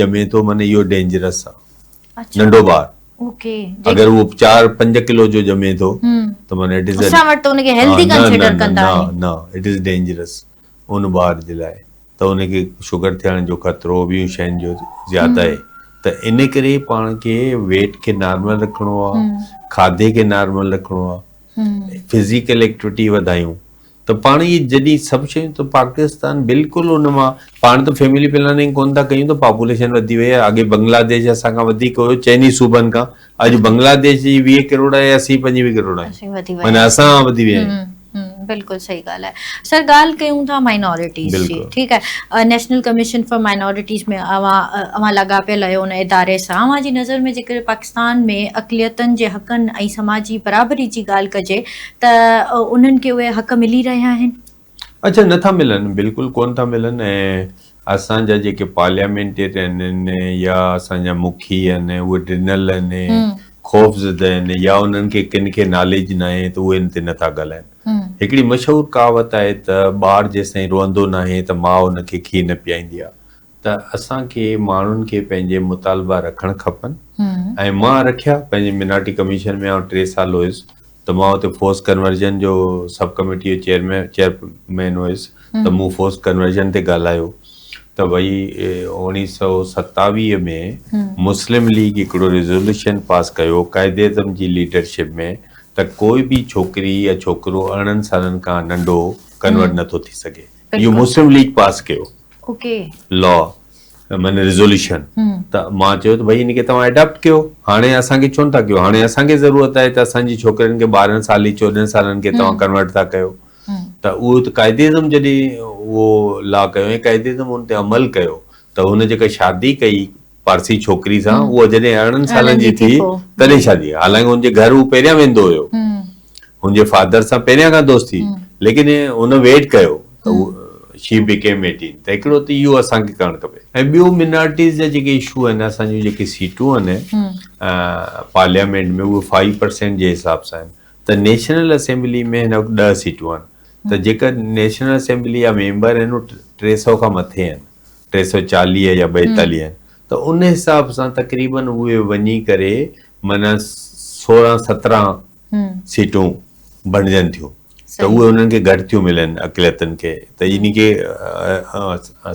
ڄمي ٿو معني اهو ڊينجرس آ ننڍو ٻار اگر اهو چار پنج ڪلو جو ڄمي ٿو ته معني اٽ از اسان وٽ ته ان کي هيلٿي ڪنسيڊر ڪندا آهن نه نه اٽ از ڊينجرس ان ٻار جي لاء ته ان کي شگر ٿيڻ جو خطرو ٻيون شين جو زياده آهي ته ان ڪري پاڻ کي ويٽ کي نارمل رکڻو آ کاڌي کي نارمل رکڻو آ فزيڪل ايڪٽيوٽي وڌايون ته پاڻ اهي جڏهن سڀ شيون ته پاڪستان بلڪل ان مان پاڻ ته فيملي پلاننگ ڪون ٿا ڪيون ته پاپوليشن وڌي وئي آهي اڳي بنگلاديش اسان کان وڌيڪ هيو چئن ئي صوبن کان اڄ بنگلاديش جي ويهه ڪروڙ آهي اسين پنجويهه ڪروڙ آهيون معنيٰ اسان وڌي ويا آهيون بلڪل صحيح ڳالھ آهي سر ڳالھ ڪيون ٿا مائنورٽيز جي ٺيڪ آهي نيشنل ڪميشن فار مائنورٽيز ۾ اوهان اوهان لاڳاپيل آهيو ان اداري سان اوهان جي نظر ۾ جيڪڏهن پاڪستان ۾ اقليتن جي حقن ۽ سماجي برابري جي ڳالھ ڪجي ته انهن کي اهي حق ملي رهيا آهن؟ اچا نٿا ملن بلڪل ڪون ٿا ملن ۽ اسان جا جيڪي پارليامينٽيرين آهن يا اسان جا مکي آهن اهي ڊنل آهن خوف زده آهن يا انهن کي ڪن کي ناليج ناهي ته اهي ان تي نٿا ڳالهائن هڪڙي مشهور ڪهاوت آهي ته ٻار جيستائين روئندو ناهي ته ماء ان کي کير نه پيائيندي آهي ته اسان کي ماڻهن کي پنهنجي مطالبا رکڻ کپن ۽ مان رکيا پنهنجي منارٽي ڪميشن ۾ آئون ٽي سال هيس ته مان اتي فورس ڪنورجن جو سب ڪميٽي جو چيئرمين چيئرمين هيس ته مون فورس ڪنورجن تي ڳالهايو ته وئي اوڻيهه سؤ ستاويهه ۾ مسلم ليگ هڪڙو ريزولوشن پاس ڪيو قائد اعظم جي ليڊرشپ ۾ ته ڪوئي به ڇوڪري يا ڇوڪرو ارڙهن سالن کان ننڍو ڪنورٽ نٿو ٿي سگهي اهو مسلم ليگ پاس ڪيو اوڪي. لا معنيٰ ريزوليوشن ته مان چيو ته ڀئي ان کي توهان ايڊاپٽ ڪيو هاڻي اسان کي ڇو نٿا ڪيو هاڻي اسان کي ضرورت آهي ته اسان جي ڇوڪرين کي ٻارهن سالي چوڏهن سالن کي توهان ڪنورٽ ٿا ڪيو ته اهو ته قائد اعظم جڏهن اهو لا ڪيو ۽ قائد اعظم ان تي عمل ڪيو ته هن جيڪا شادي ڪئي پارسي ڇوڪري سان هوء جڏهن ارڙهن سالن جي ٿي تڏهن شادي ڪئي حالانڪ هن جي گهر هو پهريان ويندو هيو هن جي فادر سان پهريان کان دوستي هئي ليڪن هن ويٽ ڪيو ته هو شي بيڪيم ايٽين ته هڪڙو ته اهو اسان کي ڪرڻ کپي ۽ ٻيو منارٽيز جا جيڪي اشو آهن اسان جون جيڪي سيٽون آهن پارليامينٽ ۾ اهي فائيو پرسينٽ جي حساب سان آهن ته نيشنل اسيمبلي ۾ هن وقت ڏهه سيٽون آهن ته جيڪر نيشنل اسيمبلي جا ميمبر آهن ٽي سؤ کان مٿي آهن ٽي سؤ چاليهه يا ٻائيتاليهه ته ان حساب سان تقريباً اهي وڃي ڪري معنيٰ سورهن سترهن سيٽون بڻجن ٿيون ته اهي انهن کي گهٽ ٿيون ملن اقليتن کي ته ان کي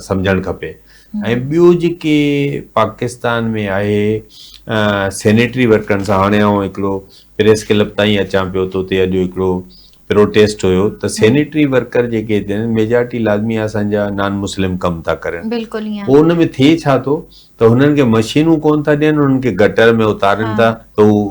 سمجهڻ کپي ۽ ٻيو جيڪي پاڪستان ۾ آهي سينيٽري ورڪرن سان هاڻي آئون هڪڙو پريس ڪلب تائين اچان پيو ته اتي اڄ هڪڙو پروٽيسٽ هيو ته سينيٽري ورڪر جيڪي هتي آهن ميجارٽي لازمي اسان جا نان مسلم ڪم ٿا ڪرن پوء ان ۾ ٿئي ڇا ٿو ته هنن کي مشينون ڪون ٿا ڏين هنن کي گٽر ۾ اتارين ٿا ته هو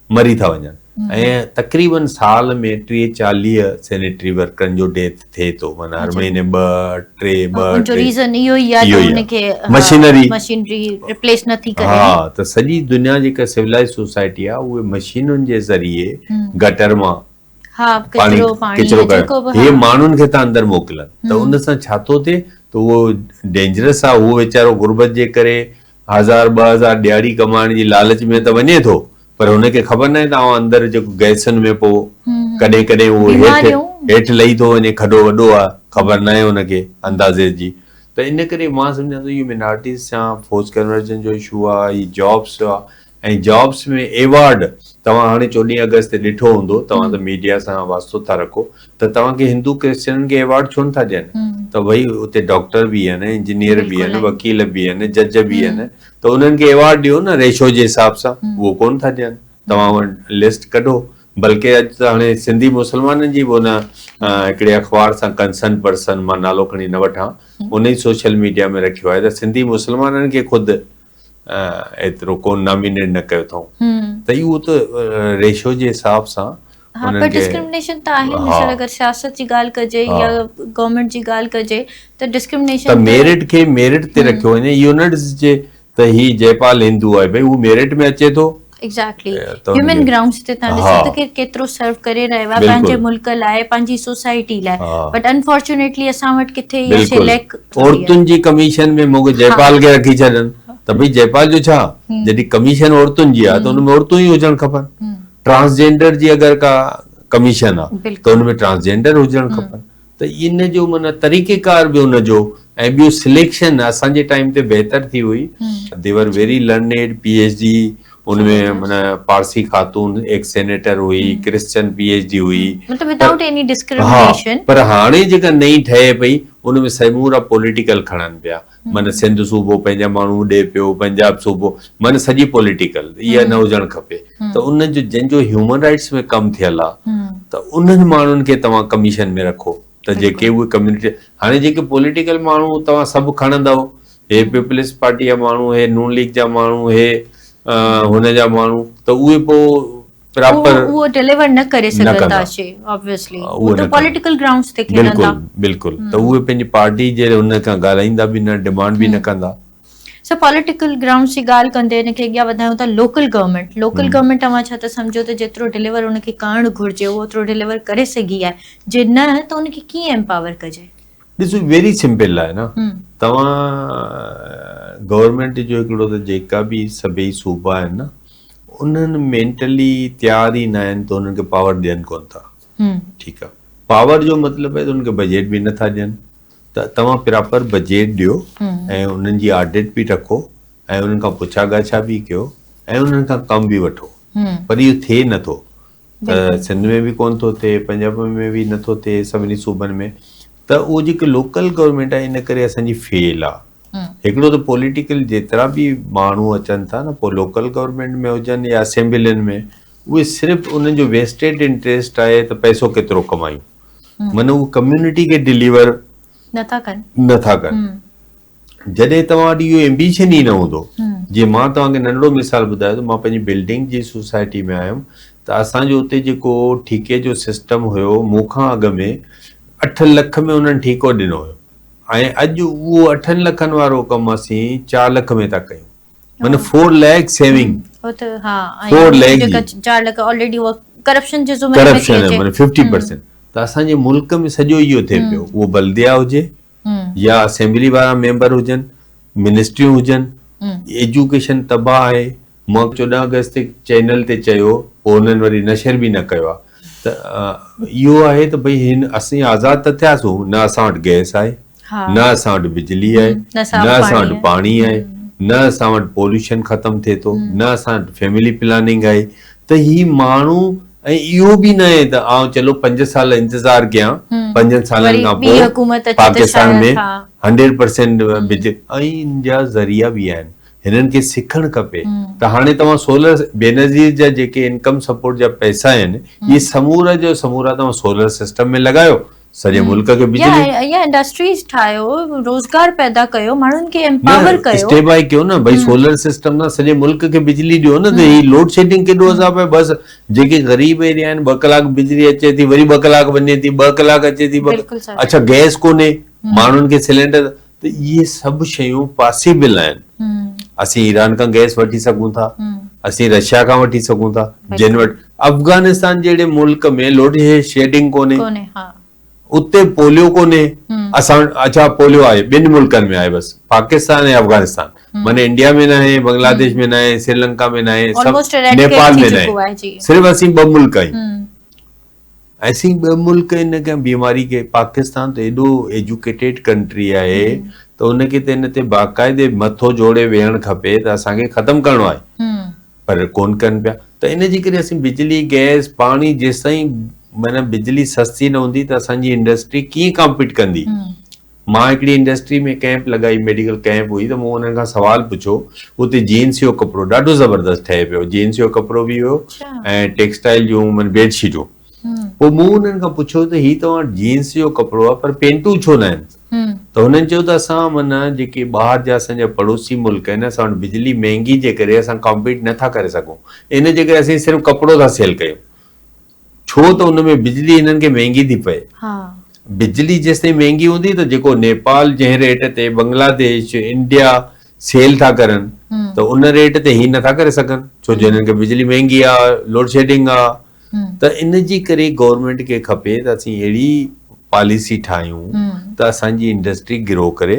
مري ٿا وڃن ۽ تقريبن سال ۾ ٽيهه چاليهه سينيٽري ورڪرن جو ڊيٿ ٿئي ٿو معنيٰ هر مهيني ٻه ٽي ٻه ٽي ان جو ريزن اهو ئي آهي جو ان کي مشينري مشينري ريپليس نه ٿي ڪري ها ته سڄي دنيا جيڪا سولائيز سوسائٽي آهي اهي مشينن جي ذريعي گٽر مان ها ڪچرو پاڻي ڪچرو جيڪو به هي ماڻهن کي ٿا اندر موڪلن ته ان سان ڇا ٿو ٿئي ته اهو ڊينجرس آهي اهو ويچارو غربت جي ڪري هزار ٻه هزار ڏهاڙي ڪمائڻ جي لالچ ۾ ته وڃي ٿو پر هن کي خبر ناهي ته اوهان اندر جيڪو گئسن ۾ پوء ڪڏهن ڪڏهن اهو هيٺ هيٺ لهي ٿو وڃي کڏو وڏو آهي خبر ناهي هن کي اندازي جي ته ان ڪري مان سمجهان ٿو اهو مينارٽيز سان فورس ڪنورجن جو اشو آهي هي جابس آهي ۽ جابس ۾ ايوارڊ توهان هاڻي چوڏهين آگسٽ تي ڏٺو هوندو توهان ته ميڊيا سان واسطو ٿا رکو ته توهان کي هندو ڪرسچنن کي ايوارڊ ڇو نٿا ڏين ته ڀئي اتي ڊاڪٽر به آهن انجنيئر به آهن وڪيل به آهن جج به آهن ته انهن کي ايوارڊ ڏيو نه ريشو جي حساب سان اهو ڪونه ٿا ڏين توهان وٽ لسٽ ڪڍو بلڪه اڄ ته هاڻي سنڌي مسلمانن جي به ان هڪڙي اخبار سان ڪنسرن پرسن مان نالو کڻي نه وٺان ان ئي سوشل ميڊيا ۾ رکيو آهي ته سنڌي مسلمانن کي خود ايترو ڪو نامينيٽ نه ڪيو اٿئون ته اهو ته ريشو جي حساب سان ها پر ڊسڪرمنيشن ته آهي مثال اگر سياست جي ڳالهه ڪجي يا گورنمنٽ جي ڳالهه ڪجي ته ڊسڪرمنيشن ته ميرٽ کي ميرٽ تي رکيو وڃي يونٽس جي ته هي جيپال هندو آهي ڀئي هو ميرٽ ۾ اچي ٿو ايگزيڪٽلي هيومن گرائونڊس تي تان ڏسو ته ڪير ڪيترو سرو ڪري رهيو آهي پنهنجي ملڪ لاء پنهنجي سوسائٽي لاء بٽ انفارچونيٽلي اسان وٽ ڪٿي اها شي ليڪ عورتن جي ڪميشن ۾ مون کي جئي پال کي رکي ڇڏن ته ڀئي جئي پال جو ڇا جڏهن ڪميشن عورتن جي آهي ته ان ۾ عورتون ئي هجڻ کپن ٽرانسجينڊر جي اگر ڪا ڪميشن آهي ته ان ۾ ٽرانسجينڊر هجڻ کپن ته ان جو معنيٰ طريقه ڪار به ان جو ۽ ٻيو سليڪشن اسان جي ٽائيم تي بهتر ٿي هئي. The were very learned, P H D ان ۾ معنيٰ پارسي خاتون هڪ سينيٽر هئي، ڪرسچن پي ايڇ ڊي هئي. مطلب ودائوٽ ايني ڊسڪرمنيشن. پر هاڻي جيڪا نئين ٺهي پئي ان ۾ سمورا پوليٽيڪل کڻن پيا. من سنڌ صوبو پنهنجا ماڻهو ڏي پيو پنجاب صوبو من سڄي پوليٽيڪل اها نه هجڻ کپي ته ان جو جن جو هيومن رائٽس ۾ ڪم ٿيل آهي ته انهن ماڻهن کي توهان ڪميشن ۾ رکو ته جيڪي اهي ڪميونٽي هاڻي جيڪي پوليٽيڪل ماڻهو توهان سڀ کڻندؤ هي پيپلز پارٽي جا ماڻهو هي نون ليگ جا ماڻهو هي هن جا ماڻهو ته اهي پوء پراپر اهو ڊيليور نه ڪري سگهندا شي اوبويسلي هو ته پوليٽيڪل گرائونڊز تي کيڏندا بلڪل بلڪل ته اهي پنهنجي پارٽي جي ان کان ڳالهائيندا به نه ڊيمانڊ به نه ڪندا. سر پوليٽيڪل گرائونڊز جي ڳالهه ڪندي ان کي اڳيان وڌايون ته لوڪل گورنمينٽ لوڪل گورنمينٽ توهان ڇا ته سمجهو ته جيترو ڊيليور ان کي ڪرڻ گهرجي اهو اوترو ڊيليور ڪري سگهي آهي جي نه ته ان کي ڪيئن ايمپاور ڪجي ڏسو ويري سمپل آهي نه توهان گورنمينٽ جو هڪڙو ته جيڪا به سڀئي صوبا آهن نه انهن مينٽلي تيار ئي نه آهن ته انهن کي پاور ڏين ڪونه ٿا ٺيڪ آهي پاور جو مطلب آهي ته انهن کي بجيٽ به نٿا ڏين ته توهان پراپر بجيٽ ڏيو ۽ انهن جي آڊٽ به رکو ۽ انهن کان پڇا ڳاڇا به ڪيو ۽ انهن کان ڪم به وٺو پر اهو ٿئي نٿو ته سنڌ ۾ به ڪون ٿو ٿئي پنجاب ۾ به نٿو ٿئي سڀني صوبن ۾ ته اهو جيڪي لوڪل گورنمينٽ آهي ان ڪري اسانجي فيل آهي هڪڙو ته پوليٽيڪل جيترا به ماڻهو اچن ٿا نه پوء لوڪل گورنمينٽ ۾ هجن يا اسيمبلين ۾ اهي صرف انهن جو ويسٽيڊ انٽريسٽ آهي ته پئسو ڪيترو ڪمايون معنی اهو ڪميونٽي کي ڊيليور نٿا ڪن نٿا ڪن جڏهن توهان وٽ اهو ايمبيشن ئي نه هوندو جي مان توهان کي ننڍڙو مثال ٻڌايو ته مان پنهنجي بلڊنگ جي سوسائٽي ۾ آيم ته اسان جو اتي جيڪو ٺيڪي جو سسٽم هيو مون کان اڳ ۾ اٺ لک ۾ انهن ٺيڪو ڏنو هيو ۽ اڄ اهو اٺن لکن وارو ڪم اسين چار لک ۾ ٿا ڪيون مطلب فور ليک سيونگ فور ليک چار لک آلريڊي ڪرپشن جي ذمي ۾ ٿي اچي ڪرپشن 50% ته اسان جي ملڪ ۾ سڄو اهو ٿي پيو اهو بلديا هجي يا اسيمبلي وارا ميمبر هجن منسٽريون هجن ايجوڪيشن تباهه آهي مان چوڏهن آگسٽ تي چينل تي چيو پوء هنن وري نشر به نه ڪيو آهي ته اهو آهي ته ڀئي هن اسين آزاد ته ٿياسون نه اسان وٽ گئس آهي نه اسان وٽ بجلي آهي نه اسان وٽ پاڻي آهي نه اسان وٽ پوليوشن ختم ٿئي ٿو نه اسان وٽ فيملي پلاننگ آهي ته هي ماڻهو ۽ اهو به ناهي ته آئون چلو پنج سال انتظار ڪيان، پنجن سالن کان پوء پاڪستان ۾ هنڊريڊ پرسينٽ بج. ائين جا ذريعا به آهن، هنن کي سکڻ کپي ته هاڻي توهان سولر، بينظير جا جيڪي انڪم سپورٽ جا پئسا آهن، اهي سمورا جو سمورا توهان سولر سسٽم ۾ لڳايو، سڄي ملڪ کي بجلي يا انڊسٽريز ٺاهيو روزگار پيدا ڪيو ماڻهن کي امپاور ڪيو اسٽيپ آئي ڪيو نه ڀائی سولر سسٽم سان سڄي ملڪ کي بجلي ڏيو نه ته هي لوڊ شيڊنگ ڪيڏو عذاب آهي بس جيڪي غريب ايريا آهن ٻه ڪلاڪ بجلي اچي ٿي وري ٻه ڪلاڪ وڃي ٿي ٻه ڪلاڪ اچي ٿي اڇا گئس ڪونهي ماڻهن کي سلينڊر ته اهي سڀ شيون پاسيبل آهن، اسين ايران کان گئس وٺي سگهون ٿا، اسين رشيا کان وٺي سگهون ٿا، جن وٽ افغانستان جهڙي ملڪ ۾ لوڊ شيڊنگ ڪونهي، اتي پوليو ڪونهي، اسان وٽ اڇا پوليو آهي ٻن ملڪن ۾ آهي بس پاڪستان ۽ افغانستان معنيٰ انڊيا ۾ ناهي، بنگلاديش ۾ ناهي، سريلنڪا ۾ ناهي، نيپال ۾ ناهي، صرف اسين ٻه ملڪ آهيون. اسين ٻه ملڪ ان کي بيماري کي پاڪستان ته ايڏو ايجوڪيٽيڊ ڪنٽري آهي ته ان کي ته ان تي باقاعدي مٿو جوڙي ويهڻ کپي ته اسان کي ختم ڪرڻو آهي پر ڪون ڪن پيا ته ان جي ڪري اسين بجلي گئس پاڻي جيستائين معنی بجلي سستي نه هوندي ته اسان جي انڊسٽري ڪيئن ڪامپيٽ ڪندي مان هڪڙي انڊسٽري ۾ ڪئمپ لڳائي ميڊيڪل ڪئمپ هئي ته مون انهن کان سوال پڇيو اتي جينس جو ڪپڙو ڏاڍو زبردست ٺهي پيو جينس جو ڪپڙو به هيو ۽ ٽيڪسٽائل جون من بيڊ شيٽون پوء مون انهن کان پڇيو ته هي توهان جينس جو ڪپڙو آهي پر پينٽون ڇو نه آهن ته هنن چيو ته اسان من جيڪي ٻاهر جا اسان جا پڙوسي ملڪ آهن اسان وٽ بجلي مهنگي جي ڪري اسان ڪامپيٽ نه ٿا ڪري سگهون ان جي ڪري اسين صرف ڪپڙو ٿا سيل ڪيون ڇو ته ان ۾ بجلي هنن کي مهنگي ٿي پئي. بجلي جيستائين مهنگي هوندي ته جيڪو نيپال جنهن ريٽ تي بنگلاديش، انڊيا سيل ٿا ڪرن ته ان ريٽ تي هي نه ٿا ڪري سگهن ڇو جو هنن کي بجلي مهنگي آ، لوڊشيڊنگ آ ته ان جي ڪري گورنمينٽ کي کپي ته اسين اهڙي پاليسي ٺاهيون ته اسان جي انڊسٽري گرو ڪري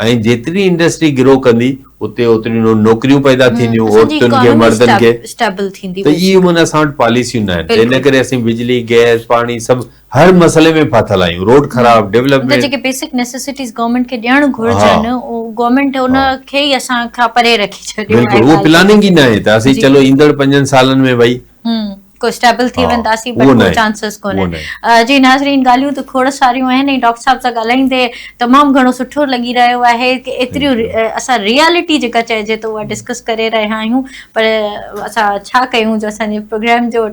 ۽ جيتري انڊسٽري گرو ڪندي اتي اوتريون نوڪريون پيدا ٿينديون عورتن کي مردن کي ته اهي معنيٰ اسان وٽ پاليسيون ناهن ته ان ڪري اسين بجلي گئس پاڻي سڀ هر مسئلي ۾ ڦاٿل آهيون روڊ خراب ڊولپمينٽ جيڪي بيسڪ نيسيسٽيز گورنمينٽ کي ڏيڻ گهرجن اهو گورنمينٽ ان کي ئي اسان کان پري رکي ڇڏيو آهي بلڪل اهو پلاننگ ئي ناهي ته اسين چلو ايندڙ پنجن سالن ۾ ڀئي ڪوسٽيبل ٿي وينداسين بٽ ڪو چانسز ڪونهن جي ناظرين ڳالهيون ته کوڙ ساريون آهن ۽ ڊاڪٽر صاحب سان ڳالهائيندي تمام گهڻو سٺو لڳي رهيو آهي ڪي ايتريون اسان ريالٽي جيڪا چئجي ٿو اها ڊسڪس ڪري رهيا آهيون پر اسان ڇا ڪيون جو اسان جي پروگرام جو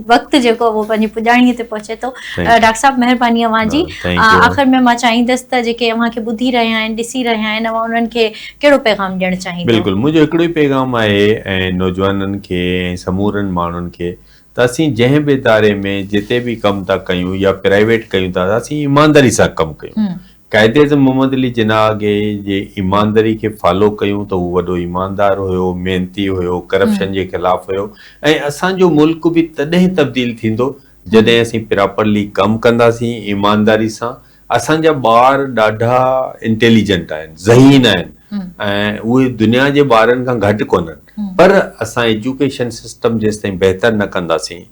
وقت جيڪو اهو پنهنجي پڄاڻي تي پهچي ٿو ڊاڪٽر صاحب مهرباني اوهان جي آخر ۾ مان چاهيندس ته جيڪي اوهان کي ٻڌي رهيا آهن ڏسي رهيا آهن اوهان انهن کي ڪهڙو پيغام ڏيڻ چاهيندؤ؟ بلڪل منهنجو هڪڙو ئي پيغام آهي ۽ نوجوانن کي ۽ سمورن ماڻهن کي ته اسين جنهن به اداري ۾ جتي به ڪم ٿا ڪيون يا پرائيويٽ ڪيون ٿا ته اسين ايمانداري سان ڪم ڪيون قائداعظم محمد علي جناح اڳي جي ايمانداري کي فالو ڪيون ته هو وڏو ايماندار هيو محنتي هيو ڪرپشن جي خلاف هيو ۽ اسان جو ملڪ به تڏهن تبديل ٿيندو جڏهن اسين پراپرلي ڪم ڪنداسين ايمانداري سان اسان جا ٻار ڏاڍا انٽيليجنٽ آهن ذهين آهن ۽ اهي دنيا جي ٻارن کان گهٽ ڪونهن پر اسان ايجوڪيشن سسٽم جيستائين بهتر نه ڪنداسين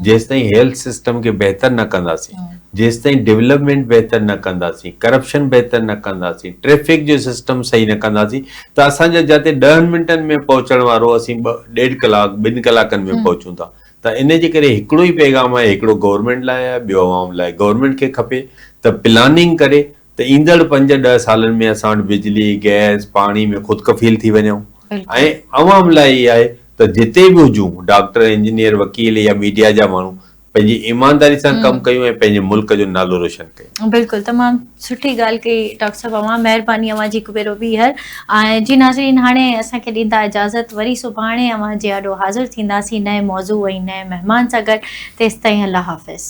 جيستائين هيلٿ سسٽم کي بهتر نه ڪنداسين جيستائين ڊولپمينٽ بهتر نه ڪنداسين ڪرپشن بهتر نه ڪنداسين ٽريفڪ جو سسٽم صحيح نه ڪنداسين ته اسان جا جاتي ڏهن منٽن ۾ پهچڻ وارو اسين ڏيڍ ڪلاڪ ٻن ڪلاڪن ۾ پهچون ٿا ته ان جي ڪري هڪڙو ئي پيغام آهي هڪڙو گورنمينٽ لاء آهي ٻيو عوام لاء گورنمينٽ کي کپي ته پلاننگ ڪري ته ايندڙ پنج ڏهه سالن ۾ اسان وٽ بجلي گئس پاڻي ۾ خود کفيل ٿي وڃئون ۽ عوام لاء هي آهي ته جتي به هجون ڊاڪٽر انجنيئر وڪيل يا ميڊيا جا ماڻهو پنهنجي ايمانداري سان ڪم ڪيون ۽ پنهنجي ملڪ جو نالو روشن ڪيون. بلڪل تمام سٺي ڳالهه ڪئي ڊاڪٽر صاحب اوهان مهرباني اوهان جي هڪ ڀيرو ٻيهر ۽ جي ناظرين هاڻي اسان کي ڏيندا اجازت وري سڀاڻي اوهان جي آڏو حاضر ٿينداسين نئين موضوع ۽ نئين مهمان سان گڏ تيستائين الله حافظ.